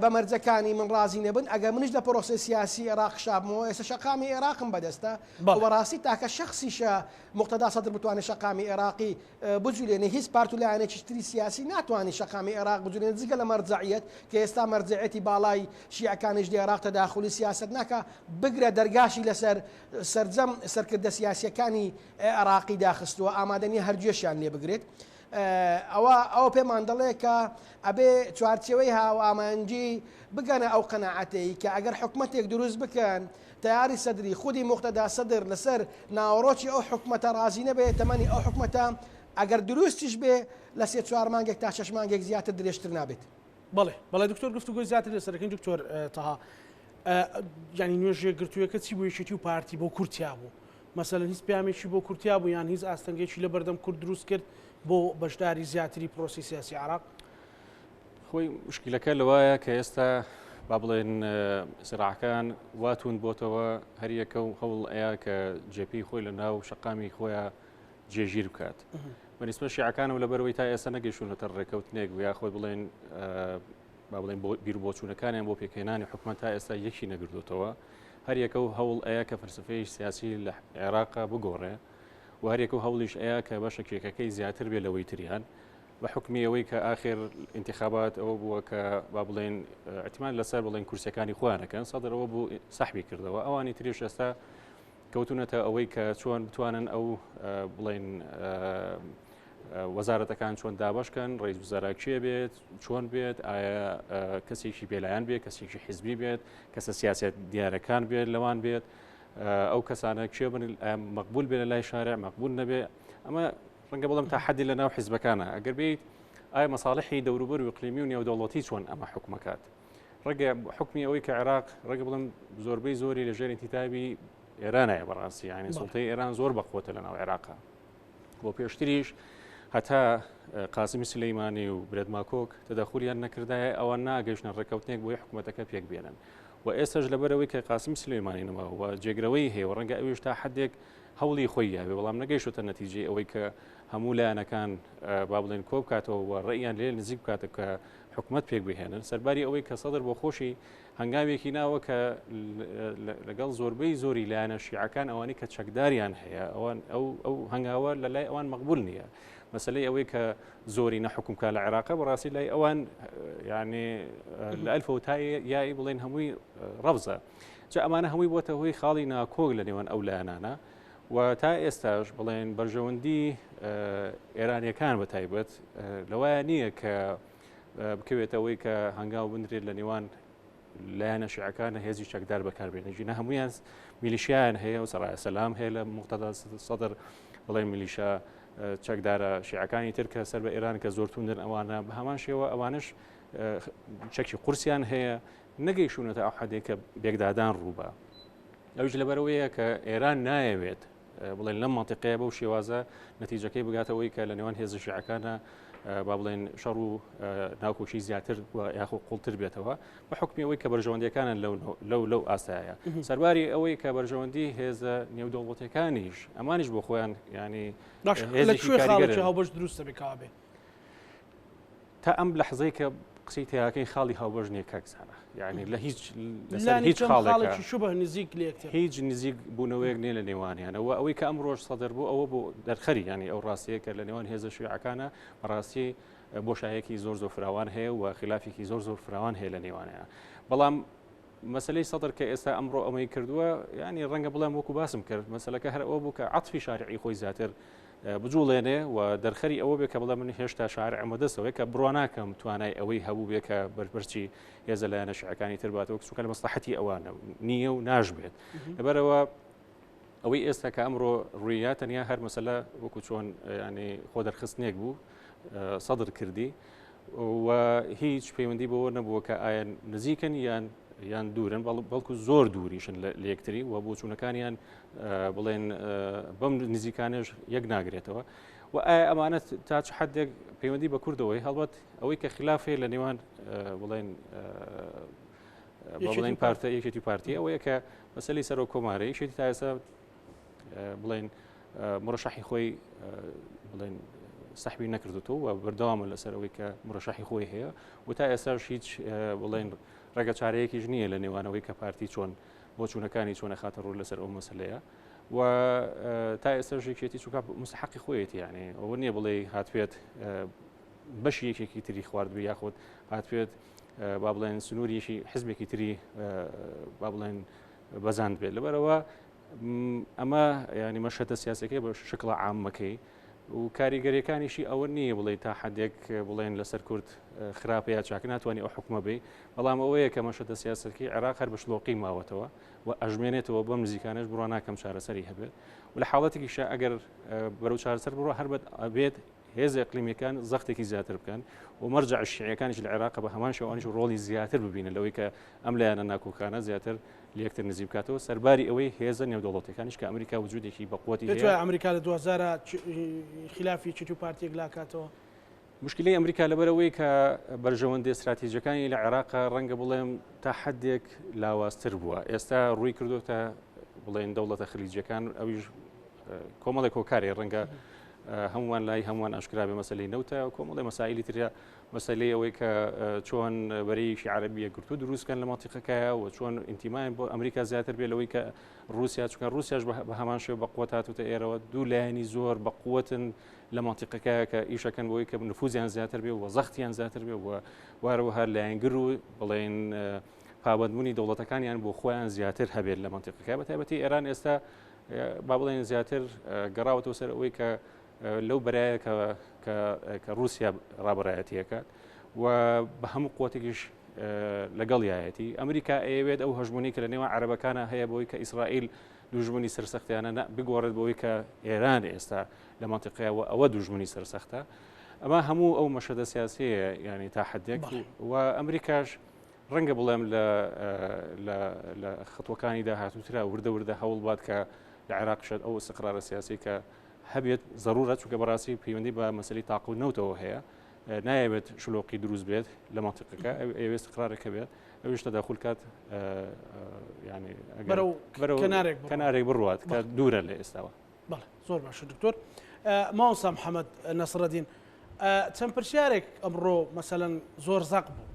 S4: بە مەرجەکانی من ڕازی نەبن، ئەگەر منیش لە پرۆسەی سیاسی ئێراق شابمەوە، ئێستا شەقامی ئێراقم بەدەستە و بە ڕاستی تاکە شەخسیشە موقتەدا سەدر بتوانێت شەقامی ئێراقی بجولێنێ هیچ پارت و لایەنێکیش تری سیاسی ناتوانێ شەقامی ئێراق بجولێنێ جگە لە مەرجەعیەت کە ئێستا مەرجەعیەتی باڵای شیعەکانیش لە ئێراق تەداخولی سیاسەت ناکا بگرە دەرگاشی لەسەر سەرجەم سەرکردە سیاسیەکانی ئێراقی داخستووە ئامادە نیە هەر گوێشیان لێ بگرێت ئەوە ئەوە پێمان دەڵێ کە ئەبێ چوارچەوەی هاوامانجی بگەنە ئەو قەنەعەتەی کە ئەگەر حکومەتێک دروست بکەن تەیاری سەدری، خودی موقتەدا سەدر لەسەر ناوەڕۆکی ئەو حکومەتە ڕازی نەبێ، تەمەنی ئەو حکومەتە ئەگەر دروستیش بێ لە سێ چوار مانگێک تا شەش مانگێک زیاتر درێژتر نابێت. بەڵێ بەڵێ دکتۆر
S1: گفتوگۆی زیاتر لەسەر دەکەین دکتۆر تەها ینی نوێژێک گرتووەکە چی بۆ یەکێتی و پارتی بۆ کورتیا بوو مەسەن هیچ پامێکی بۆ کورتیا بوو یان هیچ ئاستەنگێکی لە بەردەم کورد دروست کرد بۆ بەشداری زیاتری پرۆسی سیاسی عراق خۆی
S2: مشکلەکە لەوایە کە ئێستا با بڵێن سراعەکان واتون بۆتەوە هەریەکە و هەوڵ ئەیە کە جێپی خۆی لە ناو شقامی خۆیان جێژیر بکات بەنیسمە شیعەکان و لەبەرەوەی تا ئێستا نەگەشتونەتە ڕێکەوتنێک و یا خۆی بڵێن با بڵێن بۆ بیر بۆچوونەکانیان بۆ پێکهێنانی حکومە تا ئێستا یەکی نەگردوتەوە هەریەکە و هەوڵ ئەیە کە فەرسفەی سیاسی لە عێراق بگۆڕێ و هەریەکە و هەوڵیش ئەیە کە بەشە کێکەکەی زیاتر بێ لەوەی تریان بە حوکمی ئەوەی کە ئاخر ئینتخابات ئەوە بووە کە با بڵێن ئەتمان لەسەر بڵێن کورسەکانی خۆیانەکەن سەدر ئەوە بوو سەحبی کردەوە ئەوانی تریش ئێستا کەوتونەتە ئەوەی کە چۆن بتوانن ئەو بڵێن وەزارەتەکان چۆن دابشکەن ڕێز وزارا کێ بێت چۆن بێت ئایا کەسێکی بێلایەن بێت کەسێکی حزبی بێت کەسە سیاست دیارەکان بێت لەوان بێت ئەو کەسانە کێ بن مەقبول بێ لە لای شارع مەقبول نەبێ ئەمە ڕەنگە بڵێم تا حەدی لە ناو حیزبەکانە ئەگەر بیت ئایا مەساڵحی دەوروبەر و اقلیمی و نێودەوڵەتی چۆن ئەمە حکومەکات ڕگە حکمی ئەوەی کە عێراق ڕگە بڵم زۆربەی زۆری لە ژێر انتتابی ئێرانایە بەڕاستی ینی سڵتەی ئێران زۆر بەخۆتە لە ناو عێراقا بۆ پێشتریش هەتا قاسمی سلەیمانی و برێدماکۆک تەدەخولیان نەکردایە ئەوە ناگەشتە ڕێککەوتنێک بۆی حکوومەتەکە پێک بێنن و ئێستش لەبەرەوەی کە قاسمی سلەیمانی نەما و جێگرەوەی هەیە و ڕەنگە ئەویش تا حدێک هەوڵی خۆی یاوێ بەڵام نەگەیشتۆتە نەتیجەی ئەوەی کە هەموو لایەنەکان با بڵێن کۆ بکاتەوە و ڕێیان لێ نزیک بکاتە کە حکوومەت پێک بهێنن سەرباری ئەوەی کە سەدر بۆ خۆشی هەنگاوێکی ناوە کە لەگەڵ زۆربەی زۆری لایەنە شیعەکان ئەوانی کە چەکداریان هەیە ئەوان ئەو ئەو هەنگاوە لە لای ئەوان مەقبول نییە مەسلەی ئەوەی کە زۆری نەحکومکە لە عێراق بەڕاستی لای ئەوان یعنی لە ئەلفەوتای یای بڵێن هەمووی ڕەبزە. جا ئەمانە هەمووی بۆتە هۆی خاڵی ناکۆک لە نێوان ئەو لایەنانە و تا ئێستاش بڵێن بەرژەوەندی ئێرانیەکان بە تایبەت لەوایە نییە کە بکەوێتەوەی کە هەنگاو بنرێت لە نێوان لایەنە شعەکان هێزی چەکدار بەکاربێنە ژینە هەمویان میلیشیان هەیە و سەڕای سەسلام هەیە لە مختدا سەدر بڵێ میلیشە چەکدارە شیعەکانی تر کە سەر بە ئێران کە زۆر توندن ئەوانە بە هەمان شێوە ئەوانش چەکی قورسیان هەیە نەگەیشوونەتە ئەو حەدێک کە بێکدادان ڕووبا ئەوش لەبەرەوەیە کە ئێران نایەوێت بڵێن لەم منتیقەیە بەو شێوازە نەتیجەکەی بگاتەوەی کە لە نێوان هێزە شیعەکانە با بڵێن شەڕ و ناوکۆکی زیاتر یاخۆ قوڵتر بێتەوە بە حکمی ئەوەی کە بەرژەوەندەکانە لەو لەو ئاستایە سەرباری ئەوەی کە بەرژەوەندی هێزە نێودەوڵەتەکانیش ئەمانش بۆ خۆیان ینی
S1: هاوبەش دروستە بکبێ
S2: تا ئەم لە حزەی کە قسەی تیاکەی خاڵی هاوبەژ نیە کاکزانە یعنی لە هیچ هیچ خاڵێکی شوبه نزیک لێک
S1: هیچ نزیک
S2: بوونەوەیەک نیە لە نێوانیانەوە ئەوەی کە ئەم ڕۆژ سەدر بوو ئەوە بۆ دەرخەری ینی ئەو ڕاستەیە کە لە نێوان هێزە شوعەکانە ڕاستی بۆشایەکی زۆر زۆر فراوان هەیە و خلافێکی زۆر زۆر فراوان هەیە لە نێوانەیە بەڵام مەسەلەی سەدر کە ئێستا ئەمڕۆ ئەمەی کردووە یعنی ڕەنگە بڵێم وەکو باسم کرد مەسلەکە هەر ئەوە بوو کە عەتفی شارعی خۆی زیاتر بجوڵێنێ و دەرخەری ئەوە بێ کە بڵێ من هێشتا شارع ئەمە دەستەوەی کە بڕواناکەم توانای ئەوەی هەبوو بێ کە بەرپرچی هێزە لایەنە شعەکانی ترباتەوە چونکە لە مەسلحەتی ئەوانە نییە و ناشبێت لەبەرەوە ئەوەی ئێستا کە ئەمڕۆ ڕوویە تەنیا هەر مەسلە وەکو چۆن ینی خۆ دەرخستنێک بوو سەدر کردی و هیچ پەیوەندی بەوە نەبووە کە ئایا نزیکن یان یان دوورن بەڵکو زۆر دووریشن لە لەکتری و بۆچوونەکانیان بڵێن بەم نزیکانێش یەک ناگرێتەوە و ئایا ئەمانەت تا چ حدێک پەیوەندی بە کوردەوەی هەڵبەت ئەوەی کە خلافێ لە نێوان بڵێن بڵێن پارتە یەکێتی پارتی ئەوەیە کە مەسلی سەرۆک کۆمارە یەکێتی تاسە بڵێن مرۆشەحی خۆی بڵێن سەحوی نەکردوەوە و بەردەوامە لەسەرەوەی کە مرۆشەحی خۆی هەیە و تا ئێستاش هیچ بڵێن ڕێگە چارەیەکیش نییە لە نێوانەوەی کە پارتی چۆن بۆ چوونەکانی چۆنە خاتە ڕوو لەسەر ئەو مەسلەیە و تا ئێستا ژێکێتی چووکە مستحقی خۆیەتی یانێ ئەوە نییە بڵێ هاتوێت بەشی یەکێکی تری خواردبی یاخود هاتوێت با بڵێن سنووریشی حزبێکی تری با بڵێن بەزاند بێت لەبەرەوە ئەمە ینی مەشەتە سیاسەکەی بە شکڵە عامەکەی و کاریگەریەکانیشی ئەوە نییە بڵێ تا حدێک بڵێن لەسەر کورد خراپەیە چاکە ناتوانانی ئەو حکومە بی بەڵام ئەوەیە کە مەشەتە سیاسەکەی عێراق هەر بەشلۆقی ماوەتەوە و ئەژمێنێتەوە بەم نزیکانش بڕواناکەم چارەسەری هەبێت و لە حاڵەتێکیشە ئەگەر بەرەو چارەسەر بڕە هەربەت ئەبێت هێزە ئیقلیمیەکان زەختێکی زیاتر بکەن و مەرجع شیعەکانیش لە عێراق بە هەمان شێوانیش ڕۆڵی زیاتر ببینن لەوەی کە ئەم لایەنە ناکۆکانە زیاتر لەکتر نزی بکاتەوە سەرباری ئەوەی هێزە نێودەوڵەتەکانیش کە ئەمریکا وجودێکی بەقوتی ئەمریکا لە 2000
S1: خلافی چیت و پارتێک لاکاتەوە مشکلی
S2: ئەمریکا لەبەرەوەی کە بەرژەوەندی استراتیژەکانی لە عێراق ڕەنگە بڵێم تا حدێک لاواستر بووە ئێستا ڕووی کردوتە بڵێن دەوڵەتە خلیجەکان ئەویش کۆمەڵێک کۆکارێ ڕەنگە هەمووان لای هەمووان ئاشکرا بێ مەسلەی نەوتە کۆمەڵی مەسایلی ترە مەسلەی ئەوەی کە چۆن بەرەیەکی عربیە گرتو دروستکەن لە ماتیقەکەیە و چۆن ئینتیمایان بۆ ئەمریکا زیاتر بێ لەوەی کە رووسیا چکە رووسیاش بە هەمان شێ بە قوت هاتوتە ئێرەوە دوو لایەنی زۆر بە قوتن لە ماتیقەکە کە ئیشەکەن بۆی کە نفوزیان زیاتر بێ و زەختیان زیاتر بێ و وارەوە هەر لایەنگر و بڵێن پابندبوونی دەوڵەتەکانیان بۆ خۆیان زیاتر هەبێت لە ماتیقەکە بە تایبەتی ئێران ئێستا با بڵێن زیاتر گەڕاوەتەوە سەر ئەوەی کە لەو بەرایە کە رووسیا ڕابڕایەتیەکات و بە هەموو قوتێکیش لەگەڵ یایەتی ئەمریکا ئەیەوێت ئەو هەژمونی کە لە نێوان عربەکانە هەیە بۆی کە ئیسرائیل دوژمنی سەرسەختیانە بگۆڕێت بۆی کە ئێران ئێستا لە منطقەوە ئەوە دوژمنی سەرسەختە ئەمە هەموو ئەو مەشەدە سیاسەیە ینی تا حدێک و ئەمریکاش ڕەنگە بڵێم لە لە خەتوەکانی داهاتووترا وردە وردە هەوڵ بات کە لە عێراق شێت ئەو سقرارە سیاسی کە هەبێت ضرورە چونکە بەڕاستی پەیوەندی بە مەسلی تاق و نەوتەوە هەیە نایەوێت شلۆقی دروست بێت لە منطقەکە ئەوێست قرارێک هەبێت ئەوش تەداخل کات ینی کەنارێک بڕوات کە دوورە لە ئێستاوە بەڵێ زۆر باشە
S1: دکتۆر ماوەسا محەممەد نەسرەدین چەند پرسیارێک ئەمڕۆ مەسەەن زۆر زەق بوو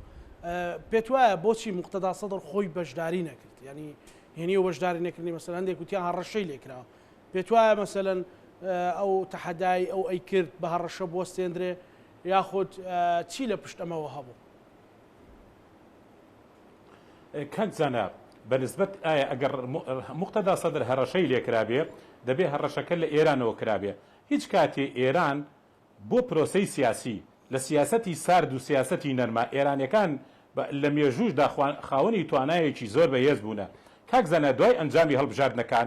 S1: پێت وایە بۆچی مختدا سەدر خۆی بەشداری نەکرد ینی هێنی و بەشداری نەکردنی مەسەر هەندێک وتیان هەڕەشەی لێکراوە پێت وایە مەسەەن ئەو تەحەدای ئەو ئەی کرد بە هەڕەشە بۆ سێندرێ یاخود چی لە پشت ئەمەوە هەبوو
S3: کاک زانا بە نسبەت ئایا ئەگەر موقتەدا سەدر هەڕەشەی لێ کرابێ دەبێ هەڕەشەکە لە ئێرانەوە کرابێ هیچ کاتێ ئێران بۆ پرۆسەی سیاسی لە سیاسەتی سارد و سیاسەتی نەرمە ئێرانیەکان لە مێژووش دا خاوەنی توانایەکی زۆر بە هێز بوونە کاک زانا دوای ئەنجامی هەڵبژاردنەکان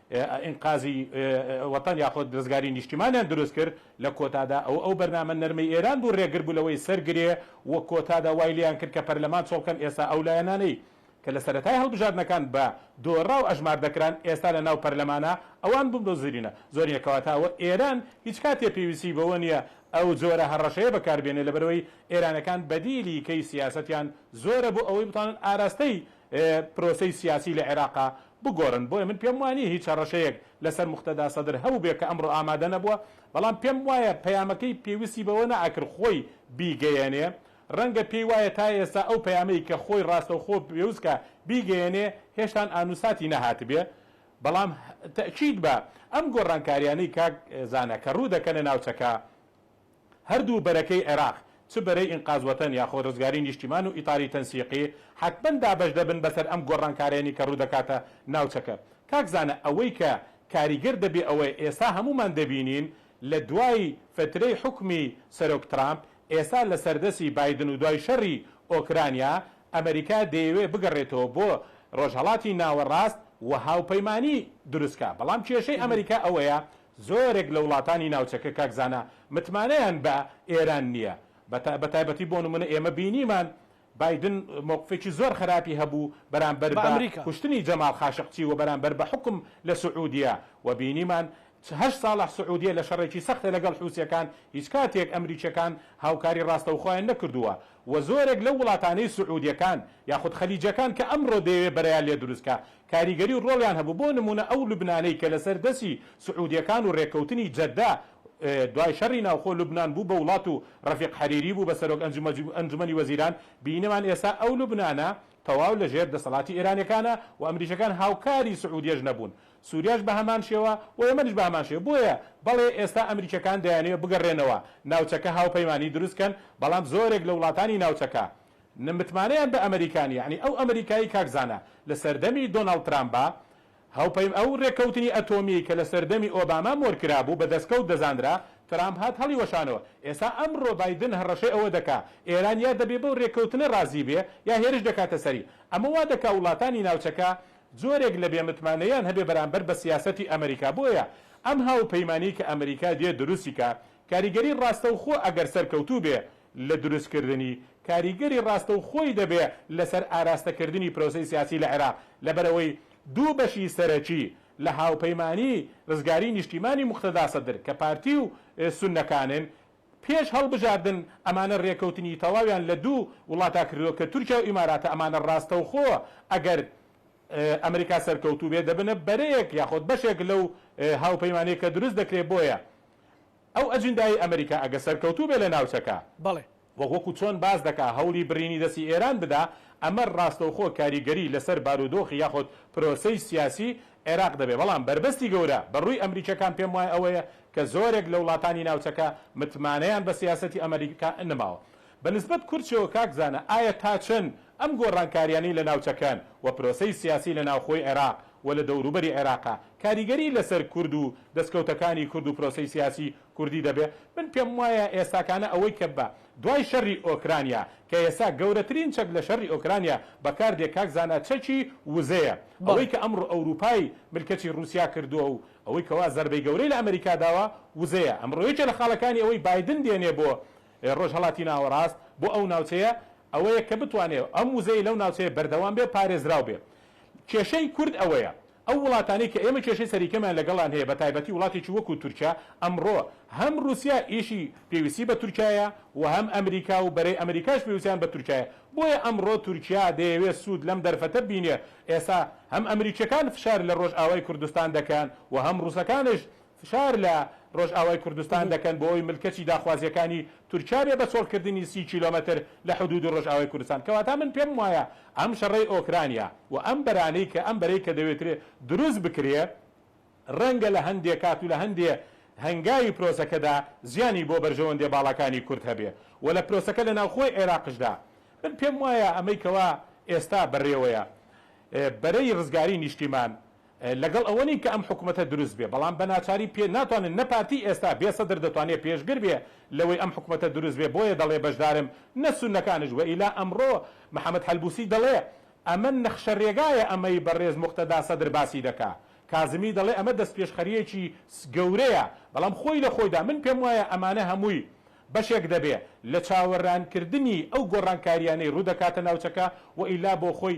S3: ئینقازی وەتەن یاخود رزگاری نیشتیمانیان دروست کرد، لە کۆتادا ئەو ئەو بەرنامە نەرمەی ئێران بوو رێگر بوو لەوەی سەر گرێ و کۆتادا وای لێیان کرد کە پەرلەمان چۆڵ بکەن ئێستا ئەو لایەنانەی کە لە سەرەتای هەڵبژاردنەکان بە دۆڕاو ئەژمار دەکران ئێستا لە ناو پەرلەمانە ئەوان بوون بە زرینە زۆرینە کەواتە ئەوە ئێران هیچ کاتێ پێویستی بەوە نییە ئەو جۆرە هەڕەشەیە بەکار بێنێ لەبەرئەوەی ئێرانەکان بەدیلی کەی سیاسەتیان زۆرە بۆ ئەوەی بتوانن ئاراستەی پرۆسەی سیاسی لە عێراق بگۆرن بۆیە من پێم وانیە هیچ هەڕەشەیەک لەسەر موقتەدا سەدر هەبوبێ کە ئەمڕۆ ئامادە نەبوە بەڵام پێم وایە پەیامەکەی پێوستی بەوە نەئەکرد خۆی بیگەیەنێ ڕەنگە پێی وایە تا ئێستا ئەو پەیامەی کە خۆی ڕاستەوخۆ پێوست کە بیگەیەنێ هێشتان ئانوساتی نەهاتبێ بەڵام تەئکید بە ئەم گۆڕانکاریانەی کاک زانا کە ڕودەکەنە ناوچەکە هەردوو بەرەکەی عێراق، چ بەرەی ئینقاز وەتەن یاخۆ رزگاری نیشتیمان و ئیتاری تەنسیقی، حەتمەن دابەش دەبن بەسەر ئەم گۆڕانکارەیەنی کە روودەکاتە ناوچەکە. کاک زانا ئەوەی کە کاریگەر دەبێ ئەوەیە ئێستا هەموومان دەبینین لە دوای فەترەی حوکمی سەرۆک ترامپ، ئێستا لە سەردەسی بایدن و دوای شەڕی ئۆکرانیا، ئەمەریکا دەیەوێ بگەڕێتەوە بۆ رۆژهەڵاتی ناوەڕاست و هاوپەیمانی دروست کا. بەڵام کێشەی ئەمەریکا ئەوەیە زۆرێک لە وڵاتانی ناوچەکە کاک زانا متمانەیان بە ئێران نییە بە تایبەتی بۆ نموونە ئێمە بینیمان بایدن مەوقفێکی زۆر خەراپی هەبوو بەرامبەر بە کوشتنی جەمال خاشقچی و بەرامبەر بە حوکم لە سعودیە و بینیمان هەشت ساڵە سعودیە لە شەڕێکی سەختە لەگەڵ حوسیەکان هیچ کاتێک ئەمریکیەکان هاوکاری ڕاستەوخۆیان نەکردووە وە زۆرێک لەو وڵاتانەی سعودیەکان یاخود خلیجەکان کە ئەمڕۆ دەیەوێت بەرەیان لێ دروست کا کاریگەری و ڕۆڵیان هەبوو بۆ نمونە ئەو لوبنانەی کە لەسەر دەسی سعودیەکان و ڕێککەوتنی جەدە دوای شەڕی ناوخۆ لوبنان بوو بە وڵات و ڕەفیق حەریری بوو بە سەرۆک ئەنجومەنی وەزیران بینیمان ئێستا ئەو لوبنانە تەواو لەژێر دەسەڵاتی ئێرانیەکانە و ئەمریکیەکان هاوکاری سعودیەش نەبوون سوریاش بە هەمان شێوە و یەمەنیش بە هەمان شێوە بۆیە بەڵێ ئێستا ئەمریکیەکان دەیانەوێت بگەڕێنەوە ناوچەکە هاوپەیمانی دروست کەن بەڵام زۆرێک لە وڵاتانی ناوچەکە نە متمانەیان بە ئەمریکا نیە یەعنی ئەو ئەمریکایەی کاک زانا لە سەردەمی دۆناڵد ترامبا هاوپەیم ئەو رێککەوتنی ئەتۆمیەی کە لە سەردەمی ئۆباما مۆر کرابوو بە دەستکەوت دەزانرا ترامپ هات هەڵی وەشانەوە ئێستا ئەمڕۆ بایدن هەڕەشەی ئەوە دەکا ئێران یا دەبێ بەو رێککەوتنە رازی بێ یا هێرش دەکاتە سەری ئەمە وا دەکا وڵاتانی ناوچەکە جۆرێک لە بێ متمانەییان هەبێ بەرامبەر بە سیاسەتی ئەمریکا بۆیە ئەم هاوپەیمانیەی کە ئەمریکا دێت دروستی کا کاریگەری ڕاستەوخۆ ئەگەر سەرکەوتوو بێ لە دروست کردنی کاریگەری ڕاستەوخۆی دەبێ لەسەر ئاراستە کردنی پرۆسەی سیاسی لە عێراق لەبەرئەوەی دوو بەشی سەرەکی لە هاوپەیمانی ڕزگاری نیشتیمانی موقتەدا سەدر کە پارتی و سونەکانن پێش هەڵبژاردن ئەمانە رێکەوتنی تەواویان لە دوو وڵاتا کردووە کە تورکیا و ئیماراتە ئەمانە راستەوخۆ ئەگەر ئەمریکا سەرکەوتوو بێت دەبنە بەرەیەک یاخۆد بەشێک لەو هاوپەیمانیە کە دروست دەکرێت بۆیە ئەو ئەجندایەی ئەمریکا ئەگە سەرکەوتوو بێت لە ناوچەکە بەڵێ. وە وەکو
S1: چۆن باس
S3: دەکا هەوڵی برینی دەستی ئێران بدا ئەمە راستەوخۆ کاریگەری لەسەر بارودۆخی یاخۆد پرۆسەی سیاسی عێراق دەبێت، بەڵام بەربەستی گەورە بەڕووی ئەمریکیەکان پێم وایە ئەوەیە کە زۆرێک لە وڵاتانی ناوچەکە متمانەیان بە سیاسەتی ئەمریکا نماوە بە نسبەت کورچەوە کاک زانا ئایا تا چەند ئەم گۆڕانکاریانەی لە ناوچەکەن و پرۆسەی سیاسی لە ناوخۆی عێراق و لە دەوروبەری عێراقا کاریگەری لەسەر کورد و دەسکەوتەکانی کورد و پرۆسەی سیاسی کوردی دەبێت من پێم وایە ئێستاکانە ئەوەی کە بە دوای شەری ئۆکرانیا کە ئێستا گەورەترین چەک لە شەری ئۆکرانیا بەکار دێ کاک زانا چەکی وزەیە ئەوەی کە ئەمڕۆ ئەوروپای ملکەچی روسیا کردوە و ئەوەی کەوا زەربەی گەورەی لە ئەمریکا داوە وزەیە ئەمڕۆ یەکێ لە خاڵەکانی ئەوەی بایدن دێنێ بۆ رۆژهەڵاتی ناوەڕاست بۆ ئەو ناوچەیە ئەوەیە کە بتوانێ ئەم وزەی لەو ناوچەیە بەردەوام بێ پارێزراو بێ کێشەی کورد ئەوەیە ئەو وڵاتانەی کە ئێمە کێشەی سەریکەمیان لەگەڵیان هەیە بە تایبەتی وڵاتێکی وەکو تورکیا ئەمڕۆ هەم روسیا یشی پێویستی بە تورکیایە و هەم ئەمریکا و بەرەی ئەمریکاش پێوسیان بە تورکیایە بۆیە ئەمڕۆ تورکیا دەیەوێت سود لەم دەرفەتە ببینێ ئێسا هەم ئەمریکیەکان فشار لە رۆژئاوای کوردستان دەکەن و هەم روسەکانش فشار لە رۆژئاوای کوردستان دەکەن بۆ ئەوەی ملکەچی داخوازییەکانی تورکیا بێ بە چۆڵکردنی سی کیلۆمەتر لە حدوودی رۆژئاوای کوردستان. کەواتە من پێم وایە ئەم شەڕەی ئۆکرانیا و ئەم بەرانەی کە ئەم بەرەی کە دەوێترێ دروست بکرێ رەنگە لە هەندێ کات و لە هەندێ هەنگاوی پرۆسەکەدا زیانی بۆ بەرژەوەندێ باڵاکانی کورد هەبێ و لە پرۆسەکە لە ناوخۆی عێراقشدا من پێم وایە ئەمەی کەوا ئێستا بەرێوەیە بەرەی رزگاری نیشتیمان لەگەڵ ئەوە نین کە ئەم حکومەتە دروست بێ بەڵام بە ناچاری پێ ناتوانن نە پارتی ئێستا بێ سەدر دەتوانێ پێشگر بێ لەوەی ئەم حکومەتە دروست بێ بۆیە دەڵێ بەشدارم نە سونەکانش وەئیلا ئەمڕۆ محمد حەلبوسی دەڵێ ئەمە نەخشە رێگایە ئەمەی بەڕێز موقتەدا سەدر باسی دەکا کازمی دەڵێ ئەمە دەستپێشخەریەکی گەورەیە بەڵام خۆی لە خۆیدا من پێم وایە ئەمانە هەمووی بەشێک دەبێ لە چاوەرانکردنی ئەو گۆڕانکاریانەی روودەکاتە ناوچەکە وەئیلا بۆخۆی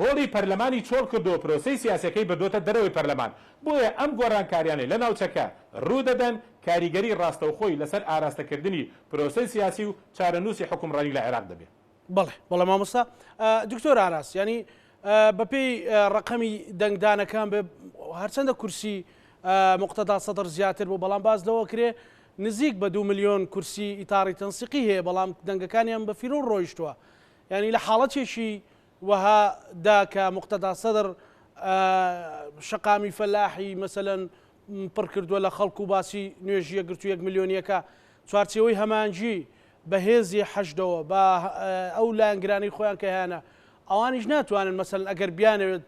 S3: هۆڵی پەرلەمانی چۆڵ کردووە پرۆسەی سیاسیەکەی بردۆتە دەرەوەی پەرلەمان، بۆیە ئەم گۆڕانکاریانەی لە ناوچەکە روودەدەن کاریگەری راستەوخۆی لەسەر ئاراستەکردنی پرۆسەی سیاسی و چارەنووسی حوکمڕانی لە عێراق دەبێت. بەڵێ بەڵێ مامۆستا
S1: دکتۆر ئاراس یانی بەپێی ڕەقەمی دەنگدانەکان بێ هەرچەندە کورسی مقتەدا سەدر زیاتر بوو بەڵام باز لەوە کرێ نزیک بە دو ملیۆن کورسی ئیتاڕی تەنسیقی هەیە بەڵام دەنگەکانیان بە فیرۆ ڕۆیشتووە ینی لە حاڵەتێکی وەها دا کە موقتەدا سەدڕ شەقامی فەلاحی مەسەلەن پڕ کردووە لە خەڵک و باسی نوێژی یەکگرتووی یەک ملیۆنییەکە چوارچێوەی هەمانجی بە هێزی حەشدەوە بە ئەو لایەنگرانەی خۆیان کە هەیانە ئەوانیش ناتوانن مەسەلەن ئەگەر بیانەوێت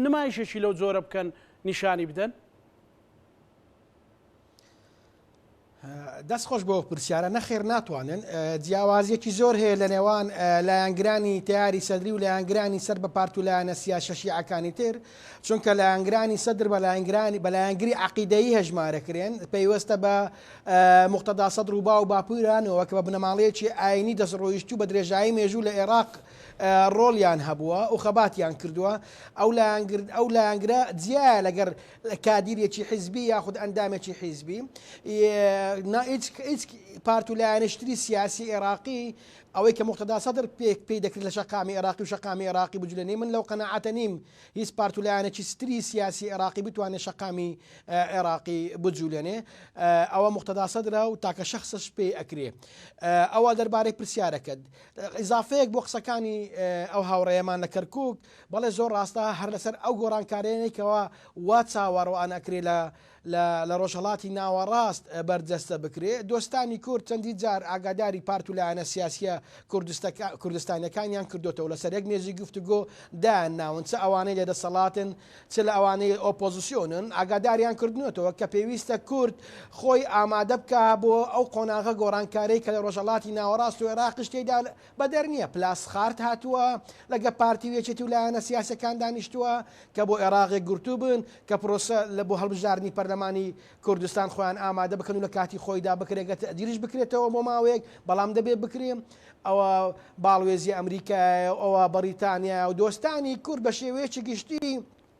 S1: نمایشێکی لەو جۆرە بکەن نیشانی بدەن؟
S4: دەست خۆش بۆ پرسیارە نەخێر ناتوانن جیاوازیەکی زۆر هەیە لە نێوان لایەنگرانی تیاری سەدری و لایەنگرانی سەر بە پارت و لایەنە سیاسە شیعەکانی تر چونکە لایەنگرانی سەدر بە لایەنگرانی بە لایەنگری عقیدەیی هەژمارەکرێن پەیوەستە بە مختدا سەد رووبا و باپورانەوە کە بە بنەماڵەیەکی ئاینی دەستڕۆیشت و بە درێژایی مێژوو لە عێراق ڕۆڵیان هەبووە و خەباتیان کردووە ئەو لایەنگرد ئەو لایەنگرە جیایە لەگەر کادیرێکی حیزبی یاخود ئەندامێکی حیزبی نا هیچ پارت و لایەنشتری سیاسی عێراقی ئەوەی کە مختدا سەدر پێک پێی دەکرد لە شقامی عێراقی و شقامی عێراقی بجلێنی من لەو قەنەعاتە نیم هیچ پارت و لایەنێکی ستری سیاسی عێراقی بتوانێت شقامی عێراقی بجولێنێ ئەوە مختدا سەدرە و تاکە شخصش پێی ئەکرێ ئەوە دەربارەی پرسیارەکەت ئضافەیەک بۆ قسەکانی ئەو هاوڕێمان لە کەرکک بەڵێ زۆر ڕاستە هەر لەسەر ئەو گۆڕانکارەیەنەی کەوا وا چاوەڕوان ئەکرێ لە لە لە ڕۆژهەڵاتی ناوەڕاست بەرجەستە بکرێ دۆستانی کورد چەندی جار ئاگاداری پارت و لایەنە سیاسیە کوردستەکا کوردستانیەکانیان کردۆتەوە لەسەر یەک مێزی گفتوگۆ دایان ناون چ ئەوانەی لە دەسەڵاتن چ لە ئەوانەی ئۆپۆزسیۆنن ئاگاداریان کردنەتەوە کە پێویستە کورد خۆی ئامادە بکا بۆ ئەو قۆناغە گۆڕانکارەی کە لە ڕۆژەڵاتی ناوەڕاست و عێراقیش تێیدا بەدەر نیە پلاسخارت هاتووە لەگە پارتی و یەکێتی و لایەنە سیاسیەکان دانیشتووە کە بۆ ئێراق یەکگرتوو بن کە پرۆسە لە بۆ هەڵبژاردنی پەرلەمانی کوردستان خۆیان ئامادە بکەن و لە کاتی خۆیدا بکرێ گەر تەئجیلیش بکرێتەوە بۆ ماوەیەک بەڵام دەبێ بکرێ ئەوە باڵوێزی ئەمریکایە و ئەوە بەڕیتانیایە و دۆستانی کورد بە شێوەیەکی گشتی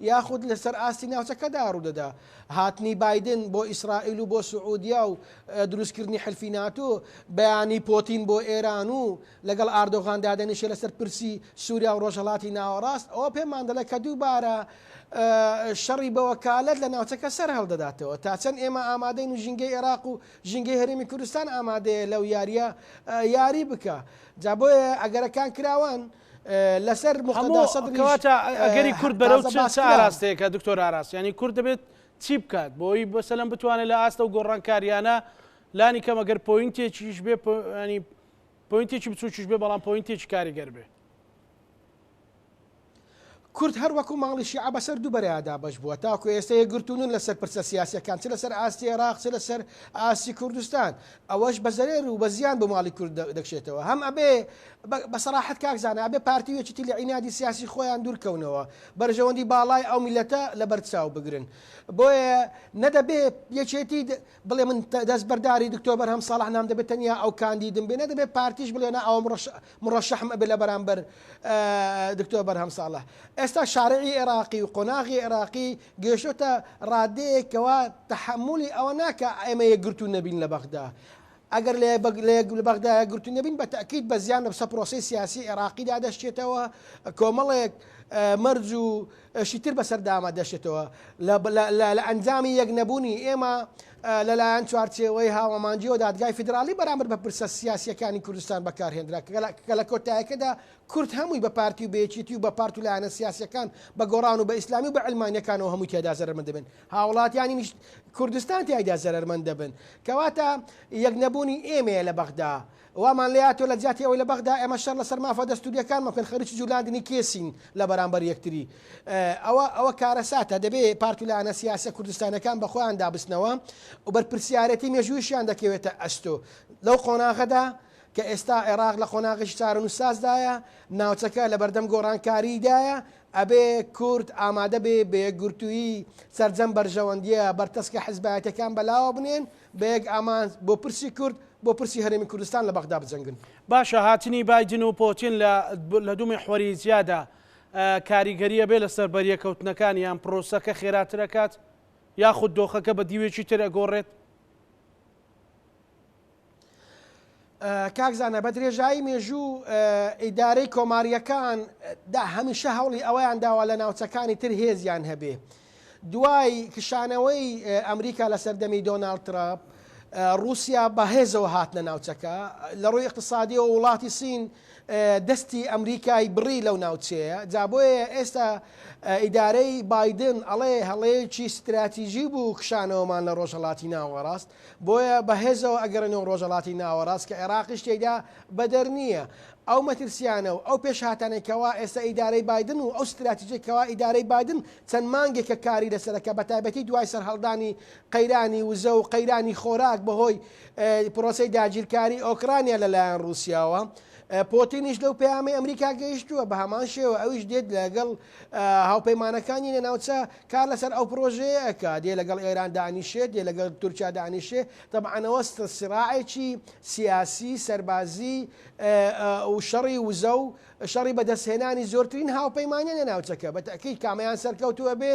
S4: یاخود لەسەر ئاستی ناوچەکەدا ڕوودەدا. هاتنی بایدن بۆ ئیسرائیل و بۆ سعودیا و دروستکردنی حلفی ناتۆ، بیانی پۆتین بۆ ئێران و لەگەڵ ئاردۆغان دادەنیشێت لەسەر پرسی سوریا و ڕۆژهەڵاتی ناوەڕاست، ئەوە پێمان دەڵێت کە دووبارە شەڕی بەوەکالەت لە ناوچەکە سەرهەڵدەداتەوە. تا چەند ئێمە ئامادەین و ژینگەی ئێراق و ژینگەی هەرێمی کوردستان ئامادەیە لەو یارییە یاری بکا؟ جا بۆیە ئەگەرەکان کراوەن. لەسەر موقتەدا سەدریش هەموو کەواتە ئەگەری
S1: کورد بەرەو چ چ ئاراستەیەکە دکتۆر ئاراس یعنی کورد دەبێت چی بکات بۆی بەسەلەم بتوانێت لە ئاستە و گۆڕانکاریانە لانی کەم ئەگەر پۆینتێکیش بێ ینی پۆینتێکی بچووکیش بێ بەڵام پۆینتێکی کاریگەر بێ
S4: کورد هەر وەکو ماڵی شیعە بەسەر دوو بەرەیا دابەش بووە، تاکو ئێستا یەکگرتوو نین لەسەر پرسە سیاسیەکان چ لەسەر ئاستی عێراق چ لەسەر ئاستی کوردستان، ئەوەش بە زەرەر و بە زیان بۆ ماڵی کورد دەکشێتەوە، هەم ئەبێ بە سەراحەت کاک زانا ئەبێ پارتی و یەکێتی لە عینادی سیاسی خۆیان دوور کەونەوە، بەرژەوەندی باڵای ئەو میللەتە لەبەر چاو بگرن، بۆیە نە دەبێ یەکێتی بڵێ من دەست بەرداری دکتۆر بەرهەم ساڵح نام دەبێت تەنیا ئەو کاندیدم بێ نەدەبێت پارتیش بڵێ نا ئەوە مڕەشەحم ئەبێ لە بەرامبەر دکتۆر بەرهەم ساڵح ئێستا شارعی عێراقی و قۆناغی عێراقی گەشتۆتە ڕادەیەکەوە تحملی ئەوە ناکە ئێمە یەکگرتو نەبین لە بەغدا ئەگەر لە بەغدایە گرتو نەبین بە تاکیید بە زیان لەسە پرۆسی سیاسی عێراقیدا دەشتێتەوە کۆمەڵێک مەرج و شی تر بەسەر دامە دەشێتەوە لە لە لە ئەنجامی یەک نەبوونی ئێمە لە لایەن چوارچێوەی هاوامانجیەوە دادگای فیدراڵی بەرامبەر بە پرسە سیاسیەکانی کوردستان بەکارهێنرا کە لە کۆتایەکەدا کورد هەمووی بە پارتی و بە یەکێتی و بە پارت و لایەنە سیاسیەکان بە گۆڕان و بە ئیسلامی و بە علمانیەکانەوە هەمووی تێدا زەرمەند دەبن هاوڵاتیانی کوردستان تیایدا زەرمەند دەبن کەواتە یەک نەبوونی ئێمەیە لە بەغدا وامان لێ هاتووە لە جیاتی ئەوەی لە بەغدا ئێمە شەر لەسەر مافە دەستوورییەکانمان بکەن، خەریکی جووڵاندنی کێسین لە بەرامبەر یەکتری. ئەوە ئەوە کارەساتە. دەبێ پارت و لایەنە سیاسییە کوردستانییەکان بە خۆیان دابستنەوە و بەرپرسیارێتی مێژوویشیان دەکەوێتە ئەستۆ. لەو قۆناغەدا کە ئێستا عێراق لە قۆناغێکی چارەنووسسازدایە، ناوچەکە لە بەردەم گۆڕانکارییدایە، ئەبێ کورد ئامادە بێ بە یەکگرتوویی سەرجەم بەرژەوەندییە بەرتەسکە حزبایەتییەکان بەلاوە بنێن، بە یەک ئامانج، بۆ پرسی کورد، بۆ پرسی هەرێمی کوردستان لە بەغدا بجەنگن. باشە هاتنی
S1: بایدن و پۆتین لە لە دوو میحوەری جیادا کاریگەری ئەبێ لەسەر بەریەکەوتنەکان یان پرۆسەکە خێراتر ئەکات یاخود دۆخەکە بە دیوێکی تر ئەگۆڕێت؟
S4: کاک زانا بە درێژایی مێژوو ئیدارەی کۆمارییەکان دا هەمیشە هەوڵی ئەوەیان داوە لە ناوچەکانی تر هێزیان هەبێ دوای کشانەوەی ئەمریکا لە سەردەمی دۆناالد تراپ رووسیا بەهێزەوە هاتنە ناوچەکە لە ڕووی اقتصادیەوە وڵاتی سین دەستی ئەمریکای بڕی لەو ناوچەیە جا بۆیە ئێستا ئیدارەی بادن ئەڵێ هەڵەیەکی ستراتیژی بوو کشانەوەمان لە ڕۆژهڵاتی ناوەڕاست بۆیە بە هێزەوە ئەگەڕێنەوە و ڕۆژەڵاتی ناوەڕاست کە عێراقیش تێیدا بەدەر نییە. ئەو مەترسییانە و ئەو پێشهاتانەی کەوا ئێستا ئیدارەی بایدن و ئەو ستراتیجەی کەوا ئیدارەی بایدن چەند مانگێکە کاری لەسەر ئەکا بە تایبەتی دوای سەرهەڵدانی قەیرانی وزە و قەیرانی خۆراک بە هۆی پرۆسەی داگیرکاری ئۆکرانیا لە لایەن ڕووسیاوە پۆتینیش لەو پەیامەی ئەمریکا گەیشتووە بە هەمان شێوە ئەویش دێت لەگەڵ هاوپەیمانەکانی لە ناوچە کار لەسەر ئەو پرۆژەیە ئەکا، دێ لەگەڵ ئێران دانیشێ، دێ لەگەڵ تورکیا دانیشێ، تەبعەن ئەوە سراعێکی سیاسی، سەربازی و شەڕی وزە و شەڕی بەدەستهێنانی زۆرترین هاوپەیمانە لە ناوچەکە، بە تەئکید کامەیان سەرکەوتوو ئەبێ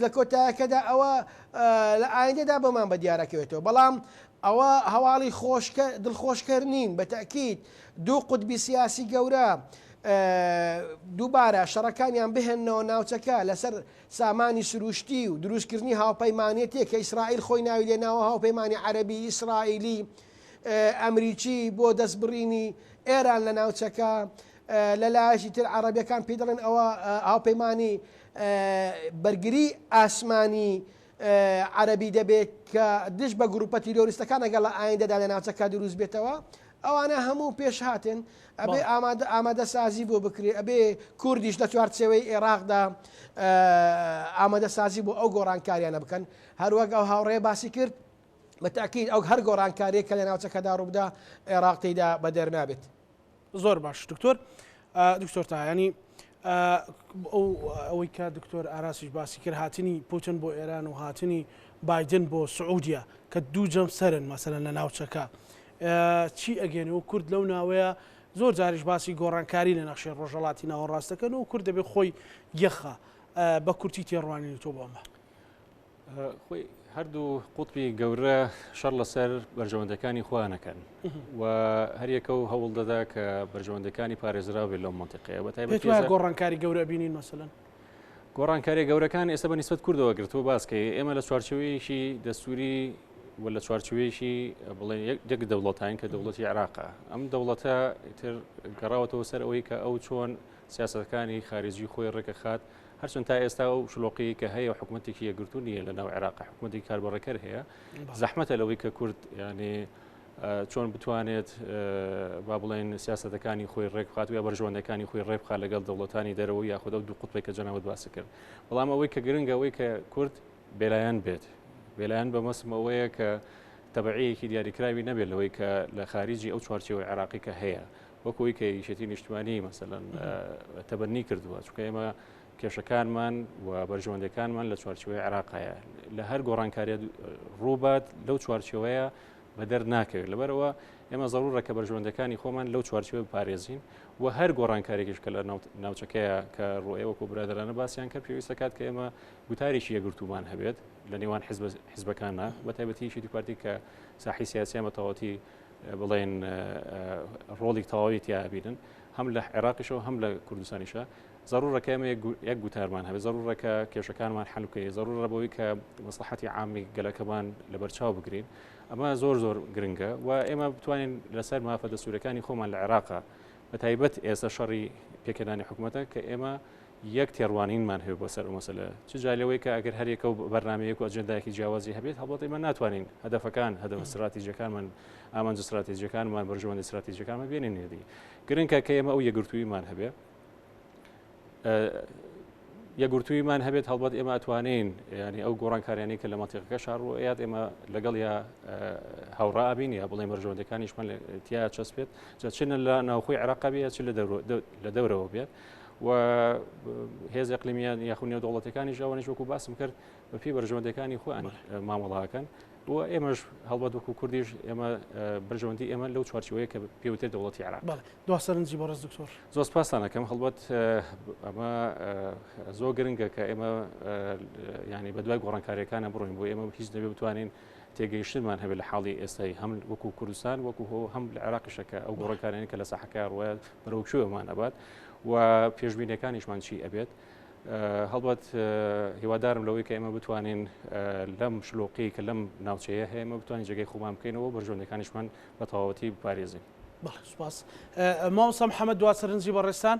S4: لە کۆتایەکەدا ئەوە لە ئایندەدا بۆمان بە دیار ئەکەوێتەوە، بەڵام ئەوە هەواڵی خۆش دڵخۆشکەر نین، بە تەئکید دوو قوتبی سیاسی گەورە دووبارە شەڕەکانیان بهێننەوە ناوچەکە لەسەر سامانی سروشتی و دروستکردنی هاوپەیمانێتێک کە ئیسرائیل خۆی ناوی لێناوە هاوپەیمانی عەربی ئیسرائیلی ئەمریکی بۆ دەستبڕینی ئێران لە ناوچەکە لە لایەکی تر عربەکان پێ دەڵێن ئەوە هاوپەیمانی بەرگری ئاسمانی عەرەبی دەبێ کە دژ بە گروپە تیرۆریستەکان ئەگەر لە ئایندەدا لە ناوچەکە دروست بێتەوە ئەوانە هەموو پێش هاتن ئەبێ ئامادە ئامادە سازی بۆ بکرێ ئەبێ کوردیش لە چوارچەوەی عێراقدا ئامادە سازی بۆ ئەو گۆڕانکاریانە بکەن هەروەک ئەو هاوڕێ باسی کرد بەتاکیید ئەو هەر گۆڕانکاریە کە لە ناوچەکەدا ڕووبدا عێراقیدا بە دەرنابێت. زۆر باش
S1: دکتۆر دکتۆر تاهانی ئەوەی کە دکتۆر ئاراسیش باسی کرد هاتنی پوتن بۆ ئێران و هاتنی بادن بۆ سعودیە کە دوو جەم سەرن مەسەرەن لە ناوچەکە چی ئەگەێنێ و کورد لەو ناوەیە زۆر جاریش باسی گۆڕانکاری لە نەخشێ ڕۆژەڵاتی ناوەڕاستەکەن و کورد دەبێت خۆی یەخە بە کورتی تێڕوانین تۆ بۆمە
S2: خۆی هەردوو قوتبی گەورە شەڕ لەسەر بەرژەوەندەکانی خۆیانەکەن و هەریەکە و هەوڵ دەدا کە بەرژەوەندەکانی پارێزراوێ لەو منتیقەیە بە تایبەت گۆڕانکاری گەورە
S1: بینین مەسەن گۆڕانکاری
S2: گەورەکان ئێستا بە نسبت کوردەوە گرتووە باسکەی ئێمە لە چوارچەوەیەکی دەستوری و لە چوارچوەیەکی بڵێ یەک دەوڵەتین کە دەوڵەتی عراقە ئەم دەوڵەتە تر گەڕاوەتەوە سەر ئەوەی کە ئەو چۆن سیاستەکانی خارجی خۆی ڕێکە خات هەرچەند تا ئێستا و شلۆقی کە هەیە و حکوومەتێکی یەگرتو نیە لە ناو عێراق حکوومەتی کاربڕێکەر هەیە زەحمەتە لەوەی کە کورد ینی چۆن بتوانێت با بڵێن سیاستەکانی خۆی ڕێکخات و یا بەرژوەندەکانی خۆی ڕێبخا لەگەڵ دەوڵەتانی دەرەوە یاخود ئەو دوو قوتپێک کە جەناوت باسی کرد بەڵام ئەوەی کە گرنگەوەی کە کورد بێلایەن بێت بێلایەن بە مەسمەوەیە کە تەبعەیەکی دیاریکراوی نەبێت لەوەی کە لە خارجی ئەو چوارچەوەی عێراقی کە هەیە وەک ئەوەی کە یەکێتی نیشتمانی مەسەلەن تەبەنی کردووە چونکە ئێمە کێشەکانمان و بەرژەوەندەکانمان لە چوارچوەی عراقایە لە هەر گۆڕانکاریە ڕووبات لەو چوارچەوەیە بەدەر ناکەوێت لەبەرەوە ئێمە زەڕورە کە بەرژەوەندەکانی خۆمان لەو چوارچوە بپارێزین و هەر گۆڕانکارێکیش کە لە ناوچەکەیە کە ڕۆێ وەکو برادرانە باسییان کە پێویستە کات کە ئێمە گوتارێکی یەگرتومان هەبێت لە نێوان حزبەکانە بە تایبەتیشی دیپارتی کە ساحی سیاسیان بە تەواتی بڵێن ڕۆڵی تەواوی تیا ئەبینن هەم لە عێراقیشەوە هەم لە کوردستانیشە ضرورەکە ئەمە یەک گوتارمان هەبێت ضرورەکە کێشەکانمان حلوکەی ضرورە بەوەی کە مەسلحەتی عامی گەلەکەمان لە بەرچاو بگرین ئەمە زۆر زۆر گرنگە و ئێمە بتوانین لەسەر مافە دەسوورەکانی خۆمان لە عێراقا بە تایبەت ئێستا شەڕی پێکردانی حکوومەتە کە ئێمە یەک تێڕوانینمان هەبێت بۆ سەر ئەو مەسەلە، چ جای لەوەی کە ئەگەر هەر یەکە و بەرنامەیەک و ئەجێندایەکی جیاوازی هەبێت، هەڵبەت ئێمە ناتوانین هەدەفەکان، هەدەفە ستراتیجییەکانمان، ئامانجە ستراتیجییەکانمان، بەرژەوەندییە ستراتیجییەکانمان بێنینە دی. گرنگە کە ئێمە ئەو یەکگرتووییمان هەبێت. یەکگرتووییمان هەبێت هەڵبەت ئێمە ئەتوانین یانی ئەو گۆڕانکاریانەی کە لە مەنتیقەکە شاڕووە یاد ئێمە لەگەڵ یا هاوڕا ئابین یا بڵێ بەرژەوەندەکانیشمان تیا چەسپێت جا چ لە ناوخۆی عێراق بێت چ لە دەورەوە بێت. و هێز ئەقلیمیان یاخو نێو دەوڵەتەکانیش ئەوانش وەکو باسم کرد بە پێی بەرژەوەندەکانی خۆیان مامەڵاکەن و ئێمەش هەڵبەت وەکو کوردیش ئێمە بەرژەوەندی ئێمە لەو چوارچوەیە کە پێوتێ دەوڵەتی عراق دو سەرنجی بەڕز
S1: دکتۆر زۆر پاسانەکەم
S2: هەڵبەت ئەمە زۆر گرنگە کە ئێمە ینی بە دوای گۆڕانکاریەکانە بڕۆین بۆ ئێمە هیچ دەبێ بتوانین تێگەیشتنمان هەبێت لە حاڵی ئێستای هەم وەکو کوردستان وەکو هۆ هەم لە عێراقیشە کە ئەو گۆڕەکانیان کە لە ساحەکە ڕوایە بەرەو کوێمان ئەبات و پێشبینەکانیشمان چی ئەبێت هەڵبەت هیوادارم لەوەی کە ئێمە بتوانین لەم شلۆقی کە لەم ناوچەیە هەیە ئمە بتوانین جێگەی خۆمان بکەینەوە بەرژۆندەکانیشمان بە تەواوەتی بپارێزین سپاس
S1: ماوسم حەمە دوا سەرنجی بەڕێستان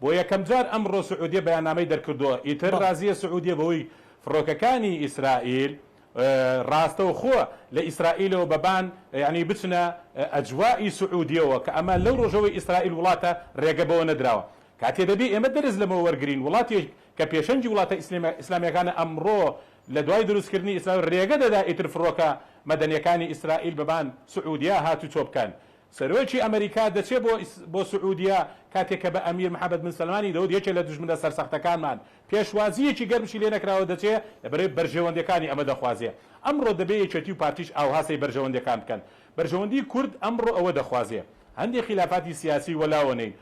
S3: بۆ یەکەم جار ئەمڕۆ سعودیە بەیاننامەی دەرکردووە، ئیتر رازییە سعودیە بەوەی فڕۆکەکانی ئیسرائیل راستەوخۆ لە ئیسرائیلەوە بە بان یانی بچنە ئەجوائی سعودیەوە کە ئەمە لەو رۆژەوەی ئیسرائیل وڵاتە رێگە بەوە نەدراوە. کاتێ دەبێ ئێمە دەرس لەمە وەرگرین وڵاتێک کە پێشەنگی وڵاتە ئیسلامیەکانە ئەمڕۆ لە دوای دروستکردنی ئیسرائیل رێگە دەدا ئیتر فڕۆکە مەدەنیەکانی ئیسرائیل بە بان سعودیە هاتوچۆ بکەن سەرۆکی ئەمەریکا دەچێت بۆ بۆ سعودیە کاتێک کە بە ئەمیر محمد بن سەلمانی دەوت یەکێ لە دوژمنە سەرسەختەکانمان پێشوازییەکی گەرمشی لێ نەکراوە دەچێ لە بەرەی بەرژەوەندیەکانی ئەمە دەخوازێ ئەمڕۆ دەبێ یەکێتی و پارتیش ئاوها سەی بەرژەوەندیەکان بکەن بەرژەوەندی کورد ئەمڕۆ ئەوە دەخوازێ هەندێ خیلافاتی سیاسی وەلاوە نەین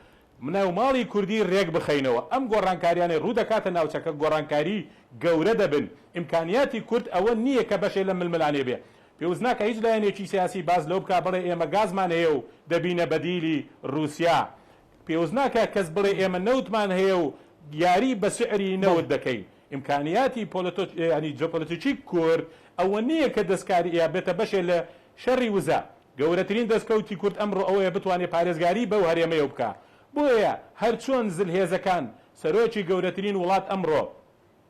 S3: مناو ماڵی کوردی رێک بخەینەوە ئەم گۆڕانکاریانەی روو دەکاتە ناوچەکە گۆڕانکاری گەورە دەبن ئیمکانیاتی کورد ئەوە نییە کە بەشێ لەم ململانێ بێ پێوست ناکا هیچ لایەنێکی سیاسی باس لەوە بکا بڵێ ئێمە گازمان هەیە و دەبینە بەدیلی روسیا. پێوست ناکا کەس بڵێ ئێمە نەوتمان هەیە و یاری بە سعری نەوت دەکەین. ئیمکانیاتی پۆلۆتۆ یانی جۆپۆلۆتیکی کورد ئەوە نییە کە دەسکاری یا بێتە بەشێ لە شەری وزە. گەورەترین دەسکەوتی کورد ئەمڕۆ ئەوەیە بتوانێ پارێزگاری بەو هەرێمەیەو بکا. بۆیە هەرچۆن زلهێزەکان سەرۆکی گەورەترین وڵات ئەمڕۆ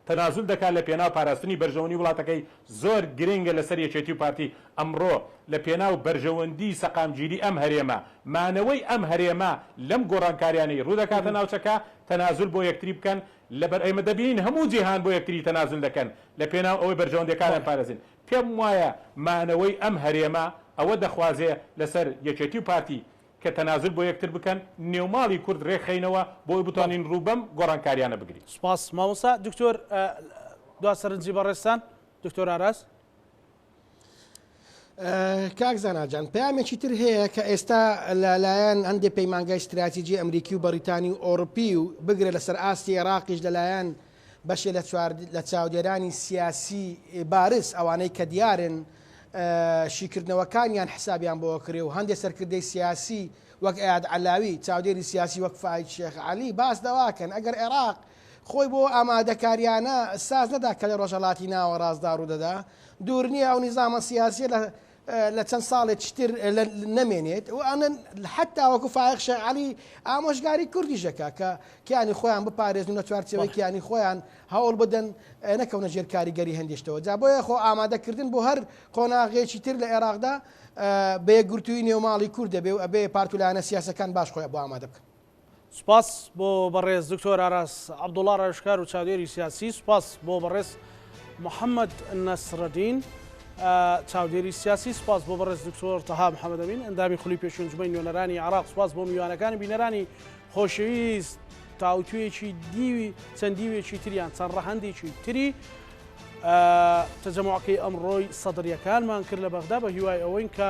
S3: تەنازول دەکات لە پێناو پاراستنی بەرژەوەنی وڵاتەکەی، زۆر گرنگە لەسەر یەکێتی و پارتی ئەمڕۆ لە پێناو بەرژەوەندی سەقامگیری ئەم هەرێمە، مانەوەی ئەم هەرێمە لەم گۆڕانکاریانەی ڕوودەکاتە ناوچەکە تەنازول بۆ یەکتری بکەن، لەبەر ئێمە دەبینین هەموو جیهان بۆ یەکتری تەنازول دەکەن لە پێناو ئەوەی بەرژەوەندیەکانیان پارێزین، پێم وایە مانەوەی ئەم هەرێمە ئەوە دەخوازێ لەسەر یەکێتی و پارتی کە تەنازول بۆ یەکتر بکەن نێو ماڵی کورد رێک خەینەوە بۆی بتوانین روو بەم گۆڕانکاریانە بگرین. سپاس مامۆستا
S1: دکتۆر دوا سەرنجی بەڕێزتان دکتۆر ئاراس.
S4: کاک زانا جان پەیامێکی تر هەیە کە ئێستا لەلایەن هەندێ پەیمانگای ستراتیجی ئەمریکی و بەریتانی و ئۆڕپی و بگرە لەسەر ئاستی عێراقیش لەلایەن بەشێ لە چوار لە چاودێرانی سیاسی بارز ئەوانەی کە دیارن شیکردنەوەکانیان حسابیان بۆ کرێ و هەندێک سەرکردەی سیاسی وەک ئەیاد علاوی چاودێری سیاسی وەک فاید شێخ علی باس دەواکەن ئەگەر عێراق خۆی بۆ ئامادەکاریانە ساز نەدا کە لە ڕۆژەڵاتی ناوەڕاستدا ڕوودەدا دوور نییە ئەو نیزامە سیاسیە لە لە چەند ساڵێچ تر نەمێنێت و ئەنن حتا وەکو فایق شێخ عەلی ئامۆژگاری کوردیش دەکا کە کیانی خۆیان بپارێزن و لە چوارچێوەی کیانی خۆیان هەوڵ بدەن نەکەونە ژێر کاریگەری هەندیشتەوە جا بۆیە خۆ ئامادەکردن بۆ هەر قۆناغێکی تر لە ئێراقدا بە یەکگرتووی نێوماڵی کورد دەبێ و ئەبێ پارت و لایەنە سیاسەکان باش خۆیان بۆ ئامادە بکەن. سوپاس
S1: بۆ بەڕێز دکتۆر ئاراس عەبدوڵا ڕاوێژکار و چاودێری سیاسی سوپاس بۆ بەڕێز محەممەد نەسرەدین چاودێری سیاسی سوپاس بۆ بەڕێز دکتۆر تەها محەممەدەمین ئەندامی خولی پێشنجمەی نوێنەرانی عراق سوپاس بۆ میوانەکانی بینەرانی خۆشەویست تاوتوێکی دیوی چەند دیوێکی تریان چەند ڕەهندێکی تری تەجەماکەی ئەمڕۆی سەدرریەکانمان کرد لە بەغدا بە هیوای ئەوەین کە